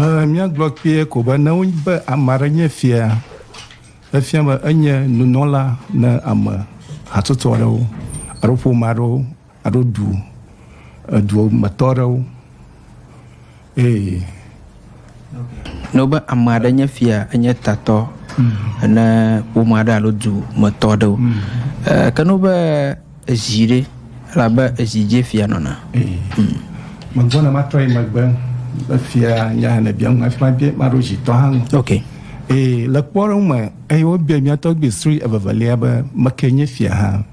Ẽ, míagblɔ kpuie ko be ne wonye be ame aɖe nye fia, efia be enye nunɔla ne ame hatsotso aɖewo alo ƒome aɖewo alo du edu me tɔ aɖewo. Ee. Ne wobe ame aɖe nye fia, enye tatɔ ne ƒome aɖe alo du me tɔ aɖewo. Ẽ, ke ne wobe Ezi ɖe, elabe ezi dzie fia nɔna. Ee. Megbɔna matrɔ yi megbe be fia nya hã nèbia ŋu hafi mabia maɖo zitɔ hã ŋu. Ok. Ee, le kpɔɖeŋu me, eye wobia mía tɔgbui srui evevelia be, Meke nye fia hã?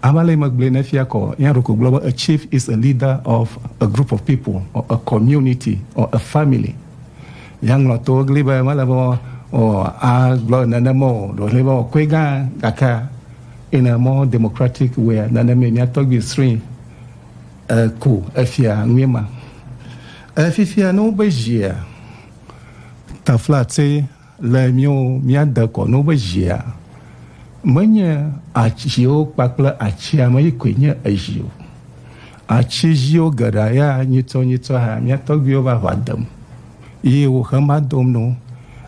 Ame ale yi megblɔe ne fia kɔ, ya ɖeko gblɔ be, A chief is a leader of a group of people or a community or a family. Ya ŋlɔ to egli be mele be o, a gblɔ nenem o, ɖewo hlɛ be o koe gã, gakea? In a more democratic way nane me mia tɔgbi srin e ko efia nue ma. E fifia no be zhia tafla tse le mio mia de kɔ no be zhia me nye atsio kpakple atsia me yi koe nye ezhio. Atsi zhio geɖa ya nyitsɔ nyitsɔ ha mia tɔgbio va va dem yi wo xe ma dom no.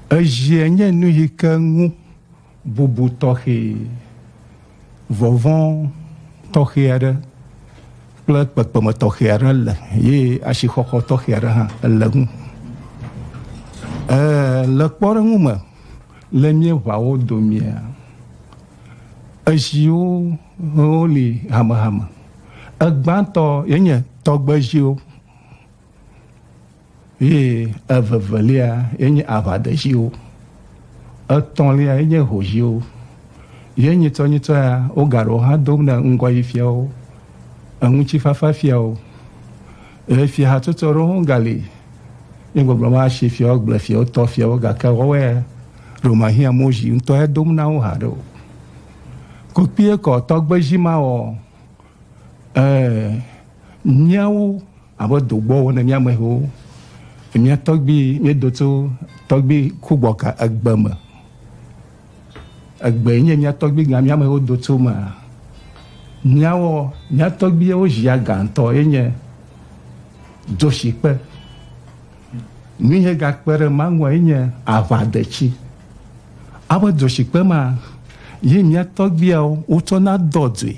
Ezhie nye nu yi ke ŋu. Bubu tɔxɛ, vɔvɔ̃ tɔxɛ aɖe kple kpekpeme tɔxɛ aɖe le ye asixɔxɔ tɔxɛ aɖe hã le eŋu. Ɛɛ, le kpɔɖeŋu me, le míeʋawo domea, eziwo woli hamehame. Egbãtɔ ye nye tɔgbeziwo. Ye evevelia ye nye aʋadeziwo. Etɔ̃lia ye nye hoziwo. Ye nyitɔnyitɔ ya, wogaɖo wo hã dom ɖe ŋgɔyifiawo, eŋutifafafiawo. Eye fiahatsotso aɖewo hã gali. Nye gbɔgblɔ me asi fiawo, agblefiawo, tɔfiawo, gake woawoe ya ɖo mahiã Mozsi ŋutɔ ya dom na wo haɖe o. Ko kpuie kɔ tɔgbedzi ma wɔ ɛ míawo. Abe dogbɔ wɔ ne mía amehewo, mía tɔgbi mía do tso tɔgbi ku gbɔ ka egbe me. Egbe nye mía tɔgbi gã mía amehewo do tso me. Mía wɔ mía tɔgbi yewo zia gã ŋutɔ ye nye dzoshi kpe. Nu ye ga kpe ɖe ma ŋua ye nye aʋa detsi. Abe dzoshi kpe ma ye mía tɔgbiawo wotsɔ na dɔ dzoe.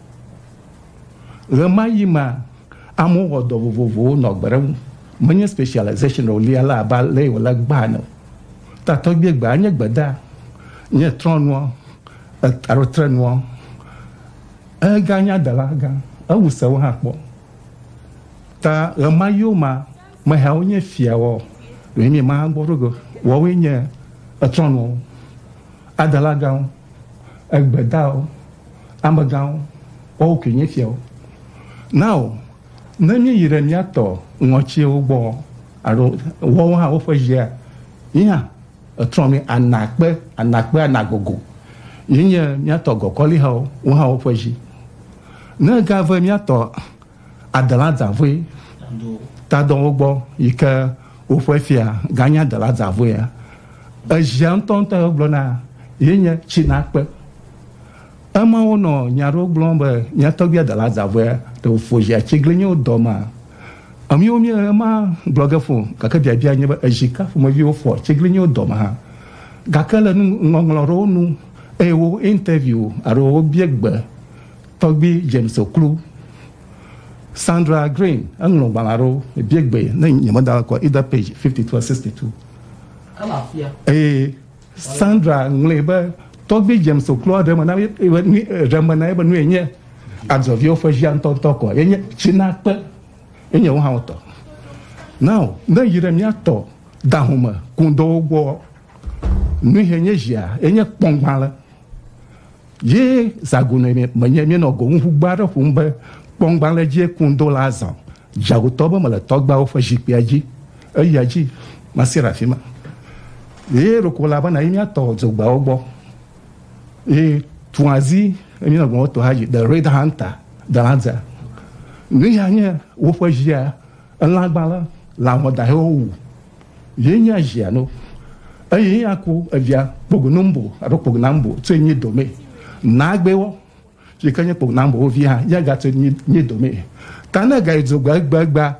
Ɣemaɣi mea, amewo wɔ dɔ vovovowo nɔ gbe ɖem. Menye specialization o lia la abe ale yi wòle gbaa ene o. Tatɔgbie gbea nye gbedaa, nye trɔ̃nua, alo trenua. Eganye adela gã, ewu sewo hã kpɔ. Ta ɣemaɣiwo mea, meheawo nye fiawo, ɖewoe nye Mawu gbɔ ɖo ge, woawoe nye etrɔ̃nuawo. Adalagãwo, egbedawo, amegãwo, woawo koe nye fiawo. Nao ne míeyi ɖe mía tɔ ŋɔtsiwo gbɔ alo woawo hã woƒe dzia, mí hã etrɔ mí ana kpe, ana kpe, ana gogo. Míenye mía tɔ gɔkɔlihawo, wo hã woƒe dzi. Ne egave mía tɔ Adaladzaʋue tadɔwo gbɔ yi ke woƒe fia ganye Adaladzaʋuea. Edzia ŋutɔŋutɔ gblɔna ye nye Tsinakpe. Eme wonɔ nya aɖewo gblɔm be mía tɔgbui Adaladzaʋuea ɖe wòfo zi atiglinyiwo dɔ ma. Míwo míele ema gblɔ ge fũ gake biabia nye be ezi ka ƒomeviwo fɔ atiglinyiwo dɔ ma hã. Gake le nuŋɔŋlɔ aɖewo nu eye wo interview alo wobia gbe Tɔgbui James Oklu, Sandra Green, eŋlɔ ŋgbalẽa ɖo bie gbe ne nyemeda la kɔ either page 52 or 62. Ele afia. Eye Sandra ŋlɔe be tɔgbui James Oklua ɖe me na ɖe me na be nue nye adzɔviwo ƒe via ŋutɔŋutɔ kɔ ye nye Tsinakpe ye nye wo hã wotɔ. Now ne yi ɖe miatɔ dahome kundɔwo gbɔ nui he nye zia ye nye kpɔngbalẽ. Ye zãgune menye míenɔ goŋuŋugbe aɖe ƒom be, Kpɔŋgbalẽ dzie kum do la azɔ dzaŋutɔ be mele tɔgbeawo ƒe zikpuia dzi. Eya dzi masi ɖe afi ma. Ɣeyiɣi ɖeko la bena yi míatɔ dzogbeawo gbɔ. Ye tuazi enye ne gblɔ woto hayi The Red Hunter, Delanza. Nuya nye woƒe ɣia, elãgbalẽ, lã wɔdahewo wu Ye nye azia no, eye ye aku evia kpogunumbo alo kpogunambo tse nye dome. Nagbewo, yi ke nye kpogunambowo vi hã, ya gatse nye nye dome. Ta ne ga yi do gbe egbegba,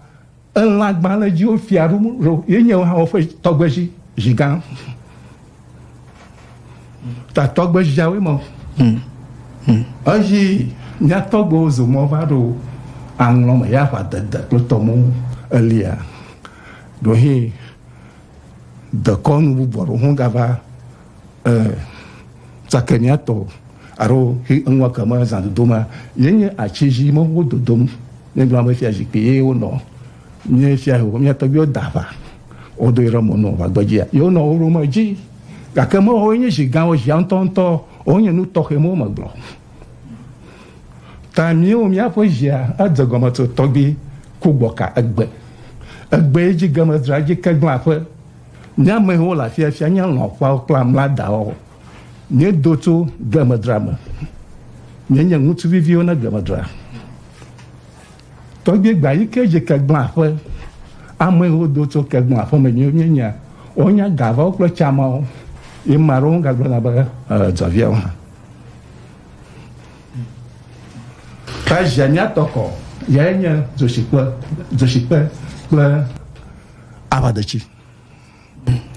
elã gbalẽdziwo fia ɖum ɖo ye nye wo hã woƒe tɔgbedzi, zi gã. tatɔgbe jawe mɔ hmm. hmm. eyi nyatɔgbewo zomɔ va ɖo aŋlɔ me ya va dede kple tɔmɔ elia ɖohe dekɔnu bubu aɖewo ho gava eh, tsakeniatɔ alo eŋua keme zãdodo ma yenye atsi dzi mewo dodom ne gblɔ be fia zikpui ye wonɔ Nye fia yewo, mia tɔgbiwo da aʋa, wodo yi ɖe mɔ nɔ va gbedzia, yewo nɔ wo ɖom edzi, gake me woe nye zi gãwo, zia ŋutɔ ŋutɔ wo nye nu tɔxɛ mewo me gblɔ. Ta miwo mia ƒe zia edze gɔme tso tɔgbi ku gbɔ ka egbe, egbe yi dzi ge me dzra dzi ke gblẽ aƒe. Mia me wo le afia fia nye lɔ̃ ƒeawo kple amla dawo, mie do tso ge me dzra me, mie nye ŋutsu viviwo ne ge me dzra. Tɔgbe gba yi ke dzi kegbla ƒe amewo do tso kegbla ƒe me nyuie nyuie, wonya ga vɔwo kple tsa mawo. Ye ma ɖewo ga gblɔna be, Ee, dzɔviawo hã. Ke zia mía tɔ kɔ yae nye dzoshikpe, dzoshikpe kple aʋadetsi.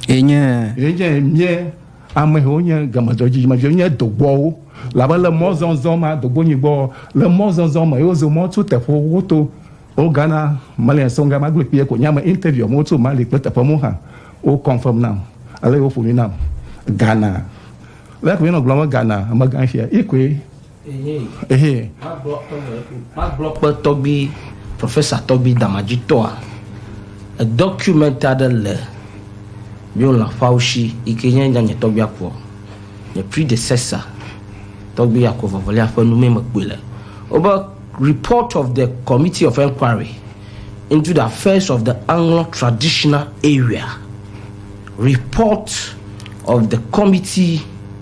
Enye. Enye mie amewo nye gamedzɔ dzidzimeviwo nye dogbɔwo labe le mɔzɔzɔ ma dogbo nyigbɔ le mɔzɔzɔ me yewo zo mɔ tso teƒe woto o Ghana Malian songa ma gble kpie ko nya me interview amewo tso Mali kple teƒe mo hã wo confirm nam ale yewo ƒo nu nam Ghana le ko yenɔ gblɔ me Ghana amegã fia ikoe Ehee. Magblɔ kpe tɔgbi, professor tɔgbi damadzitɔa, document aɖe le mìwo lãfawo shi yi ke nye nya nye tɔgbi Akua, nye predecessor, tɔgbi Akua Vavɔlia ƒe nu mee mekpɔe le. Wobe report of the committee of enquiry into the affairs of the Anglɔ traditional area, report of the committee.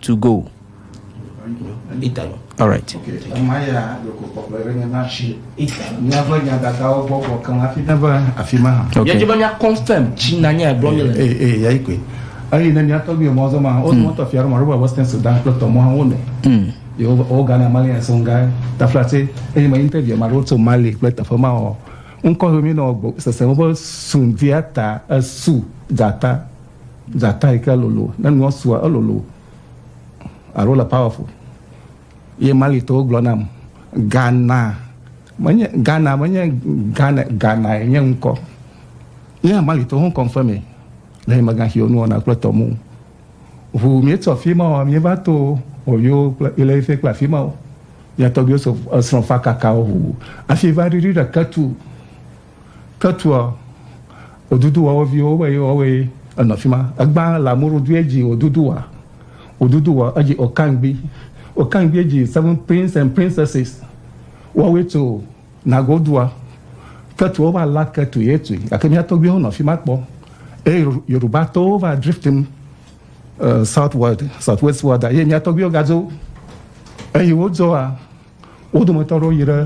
to go. All right. Okay. Yɛdze be mía confirm tsi na nye gblɔ mi le. Ee ee yɛ ikwe. Eyi ne mía tɔgbi mɔ zɔn ma, o zɔn tɔ fia ma, roba Western Sudan kple tɔmɔ hã wo nɔ. Yi o o Ghana Mali yɛ sɔn ga tafla tse. Eyi ma interview ma ɖo tso Mali kple teƒe ma o. Ŋkɔ mi nɔ sese mo be sundia ta esu dzata Dzata yi ke lolo, ne nua sua, elolo alo ele powerful. Ye Malitɔwo gblɔ nam, Gana menye, Ghana menye Ghana, Ghana ye nye ŋkɔ. Ye hã Malitɔwo ho confirme le nye megã xiwo nuwɔna kple tɔmu. Ŋu míetsɔ afi ma o, míeva to Oyo kple Ile-Ife kple afi mawo. Mía tɔgbuiwo so esrɔ̃ fakakawo ŋu hafi va ɖiɖi ɖe Ketu. Ketua wòdudu woawo viwo be yewoawoe enɔ fi ma. Egbã le amewo ɖo due dzi wòdudu wa, wòdudu wa edzi wòkangbi, wòkangbi edzi seven prince and princesses. Woawoe tso Nago dua. Ketua wova la ketu ye tui gake mía tɔgbuiwo nɔ fi ma kpɔ eye Yoruba tɔwo va drift nu southward, southwestward eye mía tɔgbuiwo gadzo eye wodzɔa. Wo dometɔ aɖewo yi ɖe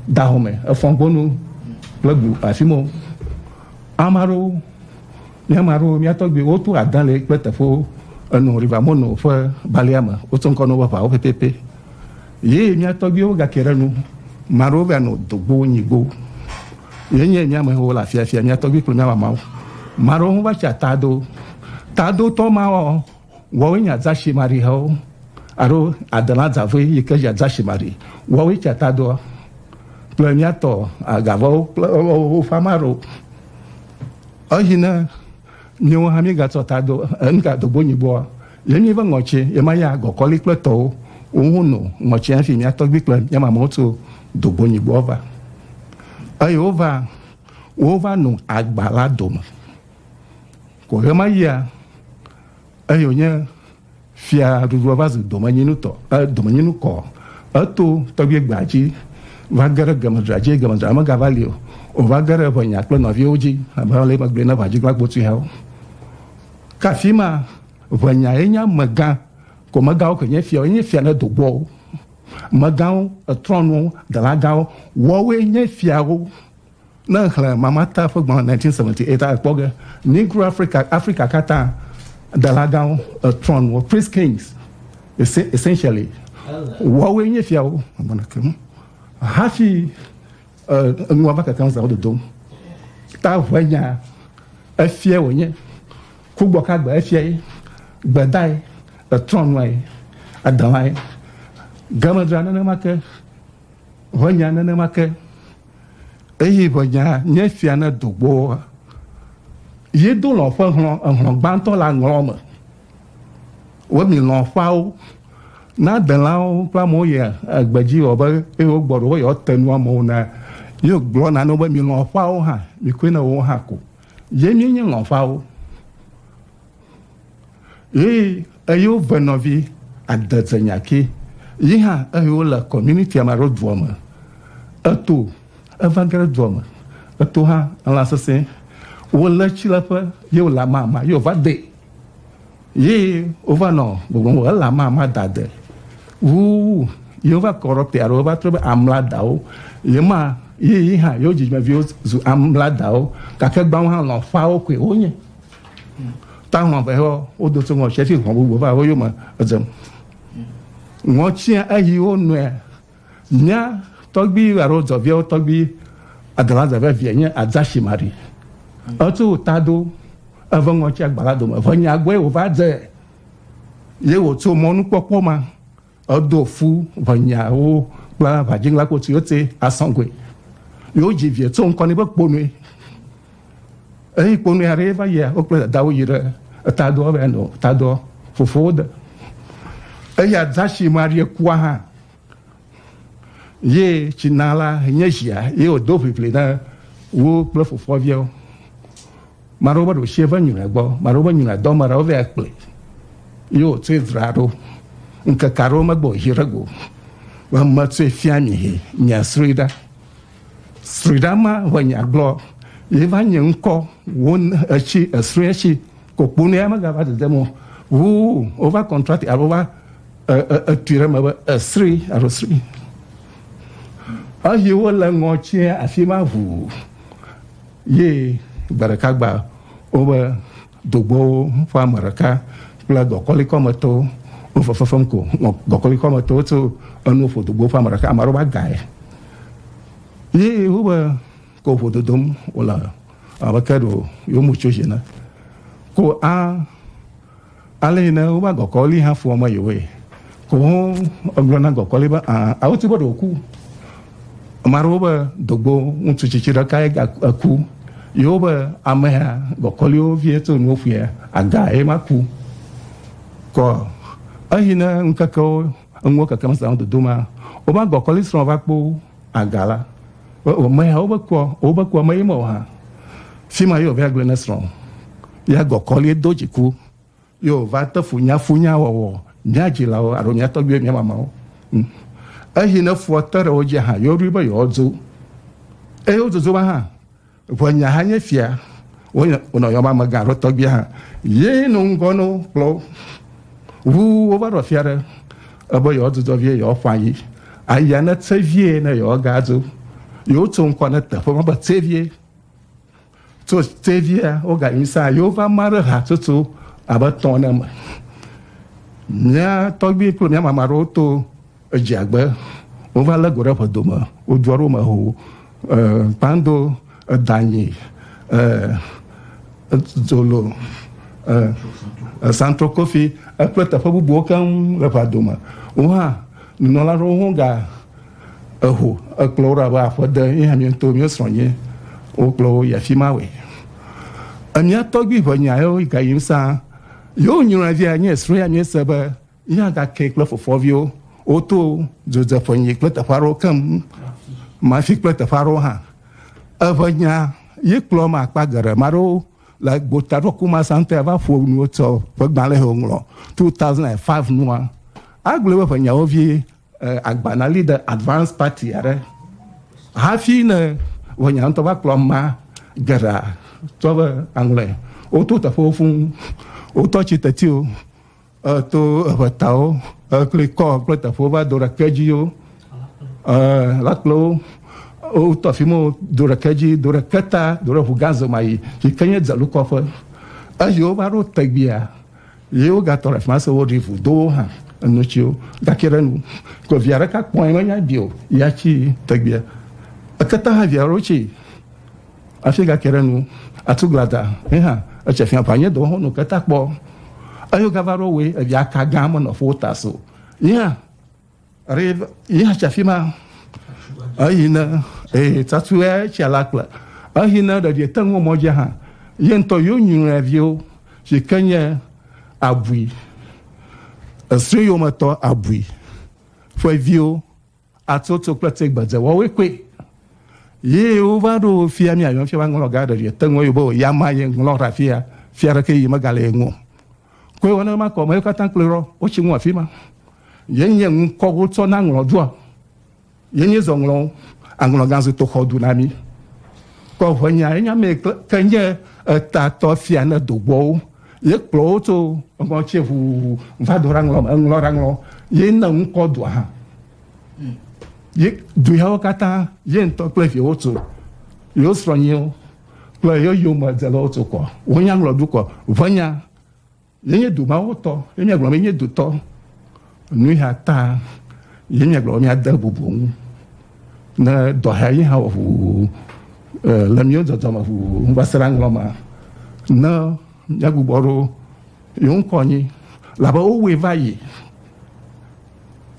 gaxɔ me, efɔgbɔnu kple go afi ma. Ame aɖewo, mía ame aɖewo, mía tɔgbuiwo, woto adã le kple teƒewo enɔ River Mono ƒe balea me. Woto ŋkɔ na woƒe ʋawo pɛpɛpɛ. Ye mía tɔgbuiwo gake ɖe nu. Ame aɖewo va nɔ dogbo, nyigbo. Ye nye mía amewo le afiafia, mía tɔgbui kple mía mamawo. Ame aɖewo hã va tsi ata do. Tadotɔ mawo, Woawoe nye adzashimarihawo alo adelã dzavoe yi ke dzi adzashimari. Woawoe tsia tadoa kple mía tɔ agavawo kple woƒe ame aɖewo. Eyi ne míwo hã míegatsɔ ta do nugadogbo nyigboa, ye míe be ŋɔtsi ye ma ya gɔkɔli kple tɔwo woŋu no ŋɔtsi hafi mía tɔgbui kple mía mamɔwo tso dogbo nyigboa va. Eye wova wova no agba la dome. Ko ɣemaɣia eye wònye fiaɖuɖua va zu domenyinutɔ, e, domenyinukɔ. Eto tɔgbuigbea dzi va ge ɖe gemedzra dzi, gemedzra megava li o. Wòva ge ɖe eŋɛnya kple nɔviwo dzi, abe ale yi megblɔe na ʋãdzigla gbotuiawo. Ke afima, ʋɛnya ye nye amegã, ko megãwo ke nye fiawo, enye fia ɖe dogbɔwo. Megãwo, etrɔnuwo, dalagãwo, woawoe nye fiawo. Ne èxlẽ Mamata ƒe gbalẽ 1978 akpɔ ge, Negro Africa, Afrika katã, delagãwo, trɔn wɔ, priest kings, essentially, woawoe nye fiawo, hafi nua va kekem zãwo dodom. Ta ʋe nya, efiae wònye, kugbɔ ka gbe efiae, gbedae, trɔnuae, adelae, gemedra nenema ke, ʋe nya nenema ke. Eye ʋenya nye esia ne do gbɔa, ye do lɔ̃ ƒe hlɔ̃, ehlɔ̃ gbãtɔ le aŋlɔ me. Wo mi lɔ̃ ƒeawo, ne adelãwo kple amewo yi egbe dzi wɔ be eye wo gbɔ ɖo be yewoate nu amewo na, ye gblɔ na ne wo be mi lɔ̃ ƒeawo hã, mi koe na wo hã ko. Ye mi nye lɔ̃ ƒeawo. Yi eyo venɔvi adedze nyaki yi hã eyo le community ama ro doa me. Eto evangere doa me. Eto hã la sese wo le tsi le ƒe ye wo la ma ma yo va de. Yi wo va nɔ gbogbo wo la ma ma da de. Wu yi wo va kɔrɔ pe aro va trebe amla dawo. Yi ma yi yi hã yo dzi me vi wo zu amla dawo. Kake gbawo hã lɔ fa wo kwe wo nye. ta ŋɔ vɛ hɔ wo do so ŋɔ tsi fi hɔn bubu va wo yo me edze ŋɔ tsi eyi wo nɔe mia tɔgbi alo zɔviawo tɔgbi adala zɛvɛ vie nye azashi mari etu ta do eve ŋɔ tsi agbala dome ve nya gbɔe wo va dze ye wo tso mɔnukpɔkpɔ ma Edo fu ʋenyawo kple ʋadziŋla kpo siwo te asɔgoe. Yewo dzi vie tso ŋkɔ nɛ be Kponui. Eyi Kponui aɖee va yia, wo kple dadawo yi ɖe etadɔ be yeanɔ tadɔ fofowo de. Eya dasi Maria kua hã ye tsi na la nye zia ye wòdo ʋiʋli na wo kple fofoa viawo. Maɖewo be ɖoshie ve nyuilɛ gbɔ, maɖewo be nyuilɛ dɔ, maɖewo vɛ akple yi wo tsoe dra ɖo. Ŋkeke aɖewo megbe o yi ɖe go be me tsoe fia mi yi mia srui ɖa. Srui ɖa ma ʋe nya gblɔ yi va nye ŋkɔ wo etsi esrui etsi kokpo ne ya mega va dedem o. Ʋu wo va kɔntrati alo va etui ɖe me be esrui alo srui. Eyi wo le ŋɔ tsia afima ʋu. Ye gbe ɖeka gbe woƒe dogbowo ƒe ame ɖeka kple gɔkɔlikɔ me tɔwo wonɔ fefem ko. Nɔ gɔkɔlikɔ me tɔwo tso enu ƒo dogbowo ƒe ame ɖeka, ame aɖewo va gae. Ye wobe ko ƒo dodom wole abe ke ɖe yewo mu tso dzi ene. Ko a. Ale yi ne wova gɔkɔli hã fua mɔ yewoe ko ho egblɔ na gɔkɔli be aa awo ti be ɖe woku. Ame aɖewo be dogbo ŋutsu tsitsi ɖeka ye ga eku. Yewo be amea gɔkɔliwo vie to nuwo ƒue aga ye ma ku. Kɔ eyi ne ŋkekewo enuwo kekem sa ŋu dodo ma wova gɔkɔli srɔ̃ va kpo Aga la, wòme ya wobe kua, wobe kua me yimɔ hã. Fima yo vea gble ne srɔ̃ ya gɔ kɔlie do dziku yo va te funya funya wɔwɔ mia dzilawo alo mia tɔgbiwo mia mamawo. Hm. Ehi ne fua te ɖe wo dzi hã, yo ɖui be yewodzo. Eyo dzodzo ma hã. Ŋua nya hã nye fia. Wonɔ yɔm amegã alo tɔgbia hã. Yee nɔ ŋgɔ no kplɔ wo. Ŋu wova ɖɔ fia ɖe ebe yewoadzudzɔ vie, yewoaƒã yi. Aya ne tse vie ne yewoagadzo. Yewotso ŋkɔ ne teƒe ma be tse vie. Tso tse viea, woganyi sãa. Yewova ma ɖe hatsotso abe tɔ̃ ne me. Mía tɔgbui kple mía mama ɖewo to. Edze agbe wova le go ɖe ƒe dome wo dzua ɖo me ho e kpando edanyi e zolo e esantro kofi ekple teƒe bubuwo keŋ le ƒe dome wo hã nunɔla ɖewo ho ga eho ekplɔ wo ɖe abe aƒe de ye hã mi ŋutɔ mi srɔ̃ nye wo kplɔ wo yi afi ma we emia tɔgbi ʋe nya yewo ga yim sa yewo nyɔnua via nye srɔ̃ ya mi se be Yina gake kple fofoviwo woto dzodzeƒe nyi kple teƒe aɖewo keŋ mafi kple teƒe aɖewo hã. Eʋe nya ye kplɔ ma akpa geɖe ma ɖewo le gbota ɖo ku ma sante va ƒo nuwo tsɔ ƒe gbalẽ he ŋlɔ 2005 nua. Agblɔ be ƒe nyawo vi agbana li de advance party aɖe hafi ne ƒe nya ŋutɔ va kplɔ ma geɖe tsɔ be aŋlɔe. Woto teƒewo fũ wotɔ tsi tetiwo. To eŋetawo kple kɔ kple teƒewo va do ɖe kedziwo la kple wo wotɔ afi ma do ɖe kedzi do ɖe keta do ɖe ʋugã zemayi yi ke nye dzelukɔƒe eye wova ɖo tegbea ye wogatɔ ɖe afi ma se woɖi ʋu do wo hã enutsiwo gake ɖe nu ko via ɖeka kpɔe menya bi o ya tsi tegbea eketa hã via ɖo tsi Afi gake ɖe nu, atu glada, he hã etsɛ fia ƒa nye dɔwɔhɔn nu keta kpɔ. Eyo gava ɖo we evi aka gã me nɔ fo ta so. Yi hã, re, yi hã tsa fi ma. Eyi ne, ee, tatu e tsa la kple. Ehi ne ɖe vie teŋu mɔ dze hã. Ye ŋutɔ yo nyuɛ vio, si ke nye abui. Esri yo me tɔ abui. Fue vio. Atsotso kple tse gbedze wɔwe koe ye wo va ɖo fia mi ayon fia va ŋlɔ ga ɖe ye te ŋlɔ yo bo ya ma ye ŋlɔ ra fia fia ɖe ke yi me ga le ŋo koe wɔne ma kɔ me yo kata kple rɔ wo tsi ŋua fima ye nye ŋu kɔ wo tsɔ na ŋlɔ dua ye nye zɔ ŋlɔ aŋlɔ ga zu to xɔ du na mi kɔ ŋe nya ye nya me ke nye eta tɔ fia ne do gbɔ wo Ye kplɔ wo tso eŋɔ tse ʋu va do ɖaŋlɔ me, eŋlɔ ɖaŋlɔ, ye na ŋkɔ dua hã. Ye du yawo katã, ye ŋutɔ kple viwo tso, yewo srɔ̃nyiwo kple yewo yome dzelawo tso kɔ. Wo nya ŋlɔ du kɔ. Ʋe nya, ye nye du mawo tɔ, ye mia gblɔ be, nye du tɔ. Nui hã ta ye míagblɔ be míade bubu wo ŋu ne dɔ hea ye hã wɔ ʋuʋu le míwo dɔdɔ me ʋuʋu va se ɖe aŋlɔ ma ne míagbugbɔ ɖo yewo ŋkɔ anyi labe wowɔe va yi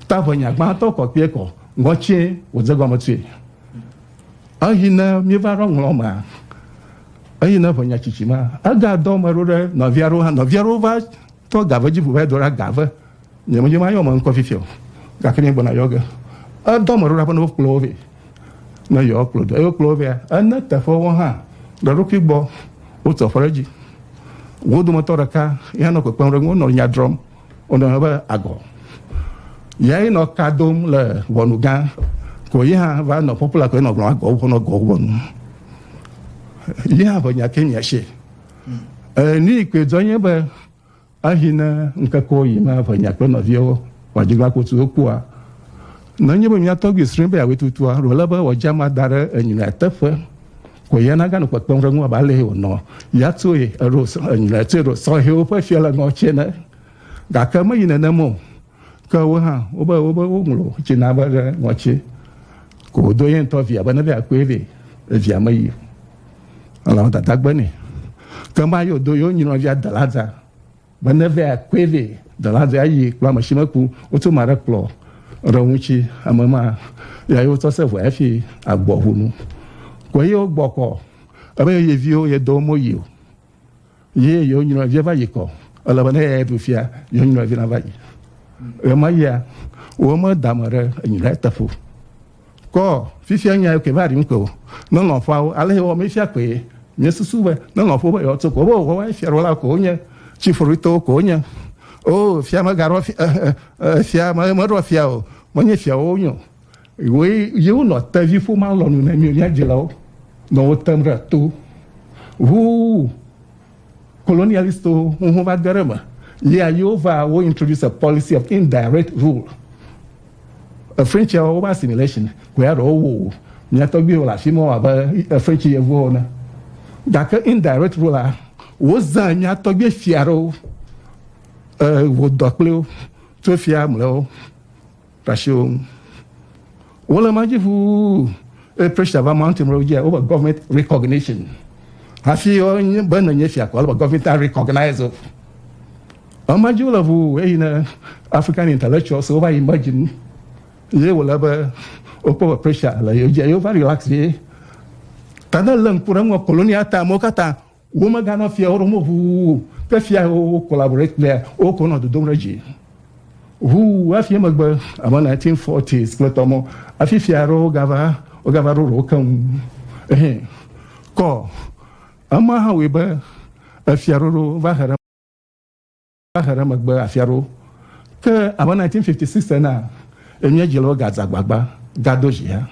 ta ʋe nya gbãtɔ kɔ kpee kɔ ŋɔtsie wòdze gɔme tsoe eyi ne míeva ɖo aŋlɔ ma eyi ne ʋe nya tsitsi ma egadɔ me ɖo ɖe nɔvia ɖewo hã nɔvia ɖewo va Tɔ gave dzi ʋu va edo ɖa gave. Nye me dzi ma yɔ me ŋkɔ fifia o gake nye gbɔna yɔ ge. Edɔ me ɖo ɖa be ne wo kplɔ wo vɛ ne yɔ kplɔ do. Eyi wo kplɔ wo vɛa ene teƒe wo hã ɖe ɖokui gbɔ wo tɔ ƒe ɖe dzi. Wo dome tɔ ɖeka ya nɔ kpekpem ɖe ŋu nɔ nya drɔm wo nɔ be agɔ. Ya yi nɔ ka dom le ʋɔnu gã ko yi hã va nɔ pɔpula ko yi nɔ gblɔ agɔ wo nɔ gɔ wo nu. Yi hã ʋe nya ke mia she. Ni koe dzɔ nye be ehi ne ŋkeke yi me eve nya kple nɔviawo wòadzigba kotu wokpɔa. Nenye be mía tɔgbi srɔ̃e be yeawɔe tutua, ɖo ele be wòadze ama da ɖe enyilɔe teƒe ko ye naganɔ kpekpem ɖe eŋu abe ale yi wònɔ ya tsoe eɖo enyilɔe tsoe ɖo sɔhɛwo ƒe fialeŋɔ tsɛ ne. Gake meyi nenem o. Ke wo hã wobe wobe woŋlɔ tsi na be ɖe ŋɔtsi ko wodo ye ŋutɔ via be ne via kpɔe vɛ evia me yi elawo dada gbe nɛ ke ma yo do yo nyinɔ via delaza be ne via kpɔe vɛ delaza ayi kplɔ ame si meku wotu ma ɖe kplɔ ɖe ŋutsi ame ma ya yo tɔ se vɔa fi agbɔ ʋunu ko ye wo gbɔkɔ ebe ye viwo ye do mo yi o Ye yewo nyɔnɔvia va yi kɔ. Ele be ne eyae ɖu fia, yewo nyɔnɔvi na va yi. Ɣemaɣia, wome da ame ɖe enyi ɖe eteƒe o. Kɔ fifia nya yi koe va ɖim koe o. Ne lɔ̃ƒoawo, ale yewɔ mi fia koe. Miesusu be ne lɔ̃ƒo be yewoatso ko, wobe woawoe fiaɖuwɔla koe wonye, tsifɔɖuitɔwo koe wonye. Oo, fia megaɖɔ fia, fia meɖɔ fia o, menye fiawo wonye o. Woe ye wonɔ tevi ƒomea lɔnu ne mí mía dzilawo nɔ wo tem ɖe to ŋu kolonialistwo ŋu va de ɖe me. Yea yewo va wo introduce a policy of indirect rule. Efrentsia wo assimilation koe aɖe wo wo mía tɔgbuiwo le afi ma abe efrentsi yevuwo ene. Gake indirect rule la wozã mía tɔgbui fia aɖewo wòdɔ kple wo tso fia mlɔewo. Tasi wo ŋu. Wole ma dzi ʋuu, eye pressure va mountain ɖe wo dzia, wobe government recognition. Hafi wonye be nenye fia ko, ale be government a recognize wo. Ema dzi wole ʋuu, eyi ne African intellectuals wo va yi me dzi nu, ye wòle be wokpɔ be pressure le yewo dzia, yewo va relax ye. Ta ne lé ŋku ɖe eŋua, colonial time wo katã Womeganɔ fia ɖom o ʋuu ke fia yi wo collaborate kplea woko nɔ dodom ɖe dzi ʋuu hafi emegbe abe 1940s kple tɔ mɔ hafi fia aɖewo gava wogava ɖo ɖewo keŋ ehɛ kɔ ema hã wɔe be efiaɖoɖo va he ɖe Xexe ɖe megbe afi aɖewo. Ke abe 1956 enea, emía dzilawo gadze agbagba gado dzi hã.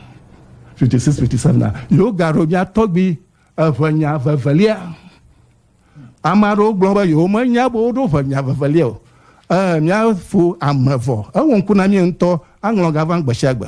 56, 57a, yewogaɖo mía tɔgbi eŋɛnya vevelia. Ame aɖewo gblɔ be yewomenya be woɖo ŋɛnya vevelia o. Ee, mía fo ame vɔ. Ewɔ ŋku na mí ŋutɔ aŋlɔ ga vam gbe sia gbe.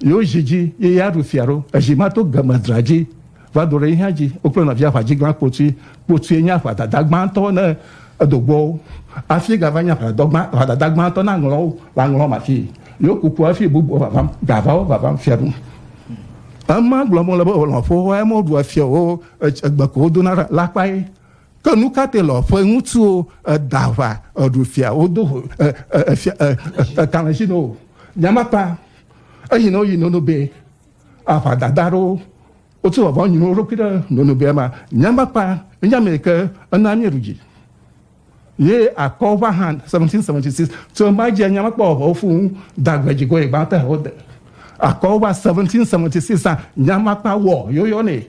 Yewo zi dzi ye ya ɖu fia ɖo. Ezi ma to gema dra dzi va do ɖe yihã dzi. Wokple nɔvia aʋadziglã kpotui kpotui nye aʋadada gbãtɔ ne edo gbɔwo. Afii gava nye aʋadadɔ gbã aʋadada gbãtɔ ne aŋlɔwo le aŋlɔm afii. Yewo kuku afii bubuwo vavam gavawo vavam fia ɖum. Ema gblɔm wole be lɔ̃ƒo woa eme woɖua fia o egbe ko wodona ɖa la kpae. Ke nu ka te lɔ ƒe ŋutsuwo eda ʋa eɖu fia wodo ho efia etalẽsi no nyamakpa eyi no yi nono be aʋa dada ɖo wotu vɔvɔ nyi no ɖokui ɖe nono be ma nyamakpa nyame ke ena mi ruji ye akɔ va han 1776 tso ma je nyamakpa vɔvɔ fu dagbe jigo ye gbã te ho de akɔ va 1776 nyamakpa wɔ yoyɔ ne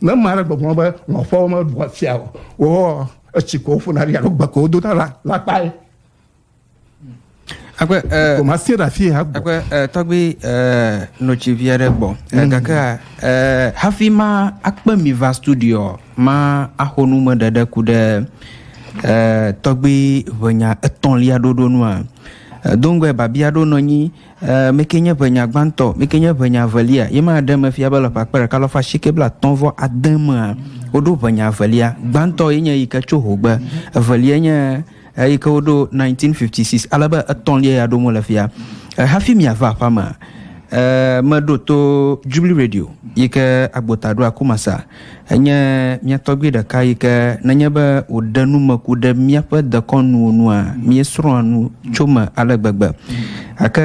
Ne ame aɖe gbɔgblɔ be lɔ̃xoawo meɖua fia o, woa etsi ko woƒona ɖi alo gbe ko wodona la, la kpae. Akpe ɛɛ. Ko masie ɖe afi ya gbɔ. Akpe ɛɛ tɔgbi ɛɛ notsi vi aɖe gbɔ. Mm. Gake ɛɛ hafi ma akpe mi va studio ma axɔ nu me ɖeɖe ku ɖe ɛɛ tɔgbi ʋenya etɔ̃lia ɖoɖo nua. Dongoe babia ɖo nɔ nyi Ɛɛ, mí kee nye ʋenya gbãtɔ, mí kee nye ʋenya evelia. Ye ma ɖe eme fia be le ƒe akpe ɖeka alafa asieke blaatɔ̃ vɔ ade mea, woɖo ʋenya evelia. Gbãtɔ ye nye eyi ke tso hogbe, evelia nye eyi ke woɖo 1956, ale be etɔ̃lia ya ɖom wole fia. Ɛɛ, hafi miava aƒea mea, ɛɛ, meɖo to Jubilee Radio yi ke agbota ɖoa Kumasi. Enye mía tɔgbui ɖeka yi ke nenye be wòɖe numeku ɖe míaƒe dekɔnuwo nua, míesrɔ̃a nu tso me ale gbegbe. Gake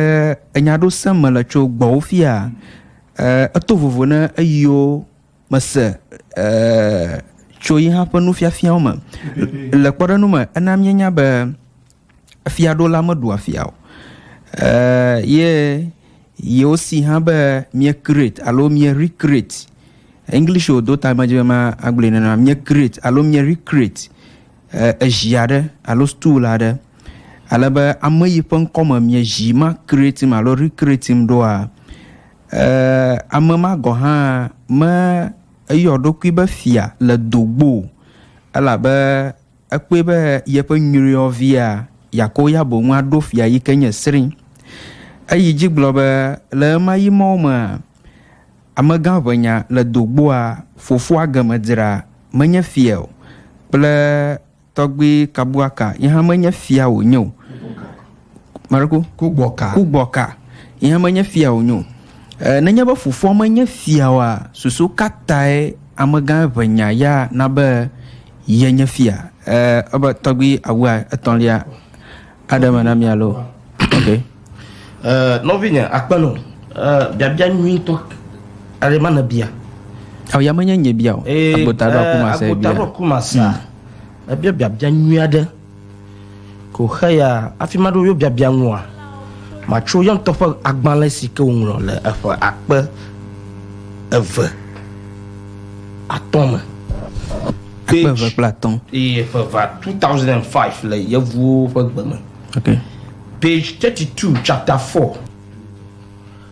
enya aɖewo sem mele tso gbɔwò fia, eto vovo ne eyiwo mese tso yi hã ƒe nufiafiawo me. Le kpɔɖeŋu me, ena míenya be Efiaɖola meɖua fia o. Eeee ye yewo si hã be mie create alo mie recreate. English o do ta medzi be ma agblɔe nena mie create alo mie recreate ezi aɖe alo stool aɖe. Ale be ame yi ƒe ŋkɔ me mie zi ma create im alo recreate im ɖoa eeee ame ma gɔ hã me eyɔ ɖokui be fia le dogbo o. Elabe Ekpɔe be yeƒe nyruiɔvia Yakoya boŋ aɖo fia yi ke nye sri. Eyi dzi gblɔ be le ɣemaɣi mawo mea, amegã ʋenya le do gboa fofoa game dzra menye fia o kple tɔgbui kabuaka yehã menye fia wònye o. Maɖeko. Kugbɔka. Kugbɔka. Ihe menye fia wònye o. E, nenye be fofoa menye fia oa, susu ka tae amegã eŋenya ya na be yenye fia? E, ebe tɔgbi awua etɔ̃lia aɖe me na mi alo? Ok. E, nɔvinye, akpe no. E, biabia nyuitɔ aɖe ma nèbia. Ao ya menye nye bia o. Agbota ɖo aku masa bia. Agbota ɖo aku masa. Ebia biabia nyui aɖe. Ko xeya afi ma ɖo yobiabia ŋua, matso ya ŋutɔ ƒe agbalẽ si ke wòŋlɔ le eƒe akpe eve atɔ̃ me. Akpe eve kple atɔ̃. Eye eƒe va 2005 le Yevuwo ƒe gbe me. Okay. Page 32, chapter 4.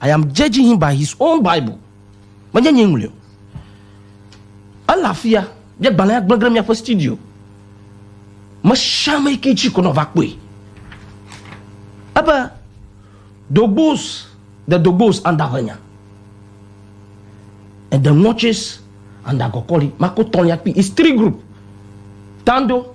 I am judging him by his own Bible. Menye nyee ŋlɔe o. Ele afia, míagbalẽ agblẽ ɖe míaƒe studio. Mesiame ke tsi ko nɔva kpɔe. Ebe dogbos de dogbos anda ƒe nya. And the notches and the gɔkɔli, mako tɔlia kpi, it's three group. Tando,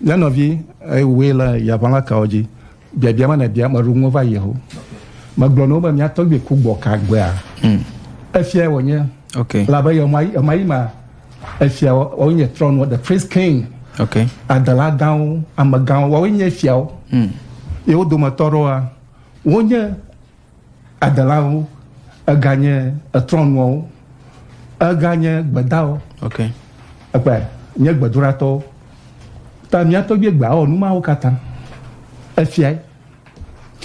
Nye nɔvi, wòe le yaʋala kawo dzi? Biabia ma nèbia, meɖo ŋu va yi ho. Megblɔ na wo be, Mia tɔgbui ku gbɔ ka gbea? Hmm. Efia wònye. Okay. Labe ye ma, ma yi ma, efia wòawo nye trɔnua, the prince king. Okay. Adela gãwo, amegãwo, wòawo nye fiawo. Hmm. Ye wo dometɔ ɖewoa, wonye Adelawo, eganye etrɔnuawo, eganye gbedawo. Ok. Ekpɔe, nye gbedoɖatɔwo. Ta mía tɔgbie gbea wɔ nu mawo katã. Efiae.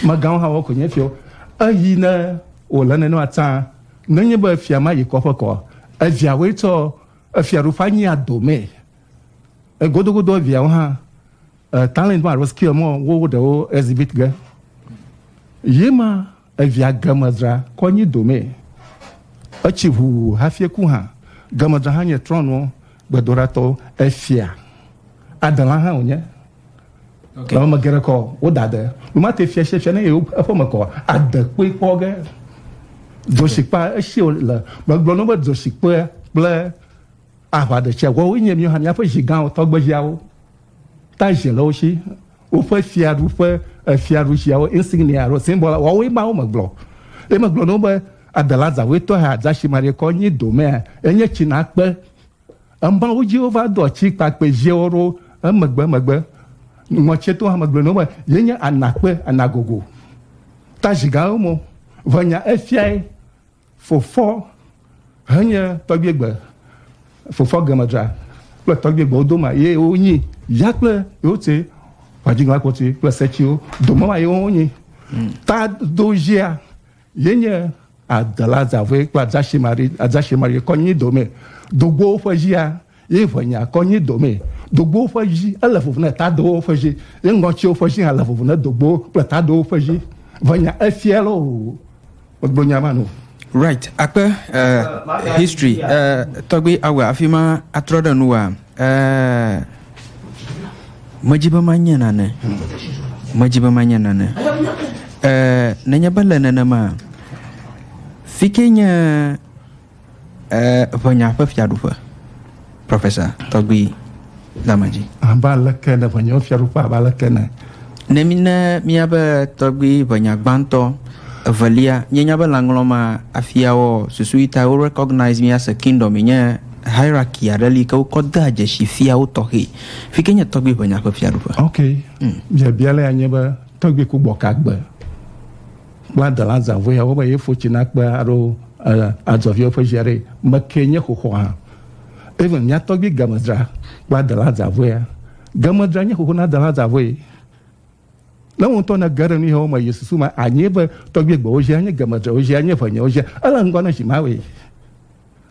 Megãwo hã wɔ ko nye fiawo. Eyi ne wòle nene atã, nenye be fia ma yi kɔƒe kɔa, eviawoe tsɔ efiaɖuƒe anyia domee. Egodogodo eviawo hã e, talent ma alo skill mɔ wo ɖewo exhibit ge. Yi ma evia Gemedra kɔ nyi domɛ. Etsi ʋu hafi eku hã. Gemedra hã nye trɔnuwo gbedoɖatɔ efia. Adela hã wònye. Okay. Ame geɖe kɔ woda de. Numate fia sia fia ne yewo eƒe me kɔ ade kpɔe kpɔ ge. Dzɔsikpa esi le megblɔ ne be dzɔsikpe kple Aʋaɖetsiaguawoe nye míawo hã míaƒe zi gãwo, tɔgbeziawo, ta zi le wo si. Woƒe fiaɖuƒe, fiaɖuziawo, insignia alo simbɔl, woawoe Mawu me gblɔ. Ye megblɔ na wo be, Adela zãwetɔ he adza si maɖi kɔ anyi domea, enye tsi nakpe. Emawo dzi wova dɔ tsikpakpɛ ziawo ɖo emegbemegbe. Ŋɔtieto hã megblɔ na wo be, ye nye anakpe, anagogo. Ta zi gãwo mo. Ve nya efiae, Fofɔ henye tɔgbiegbe, fofɔ gemedra kple tɔgbiegbe wo doma ye wo nyi, ya kple yewo tse ʋadigla kpɔti kple setsiwo doma ma ye wo nyi. Hmm. Ta do zia ye nye adela zavue kple adzashimari, adzashimari kɔ nyi dome dogbowo ƒe zia. Ye ŋe nya kɔ nyi domɛ dogbowo ƒe ʒi ele vovo ne tadowo ƒe ʒi, ye ŋɔtsiwo ƒe ʒi hã le vovo ne dogbowo kple tadowo ƒe ʒi. Ŋe nya efiɛ loo. Megblɔ nya ma no. Right akpe eh history eh tɔgbi awe afima atrɔ ɖe nuwa eh medzi be ma nye nane medzi be ma nye nane eh nenye be le nenema fike nye Eee, ʋenya ƒe fiaɖuƒe, Professor Tɔgbi Damadzi. Abe aleke ne ʋenya ƒe fiaɖuƒe, abe aleke ne. Ne mi ne míabe tɔgbi ʋenya gbãtɔ, evelia, míenya be lãŋlɔ ma afiawɔ susu yi ta wo recognize mía se kingdom yi nye hierarchy aɖe li ke wokɔ dea dzesi fiawo tɔxɛ. Fi ke nye tɔgbi ʋenya ƒe fiaɖuƒe. Ok, biabia lea nye be tɔgbi ku gbɔka gbe. Kpla dela zãvɔea wo be yefo tsi na kpea aɖo adzɔviwo ƒe zia ɖe me ke nye xoxo hã. Even mia tɔgbi Gemedzra kpla dela zãvɔea. Gemedzra nye xoxo na dela zãvɔe. Ne wo ŋutɔ ne ge ɖe nuyawo me yi susu me anyi be tɔgbi gbewo zia nye Gemedzra wo zia nye ʋenye wo zia ele ŋgɔ ne zi ma we.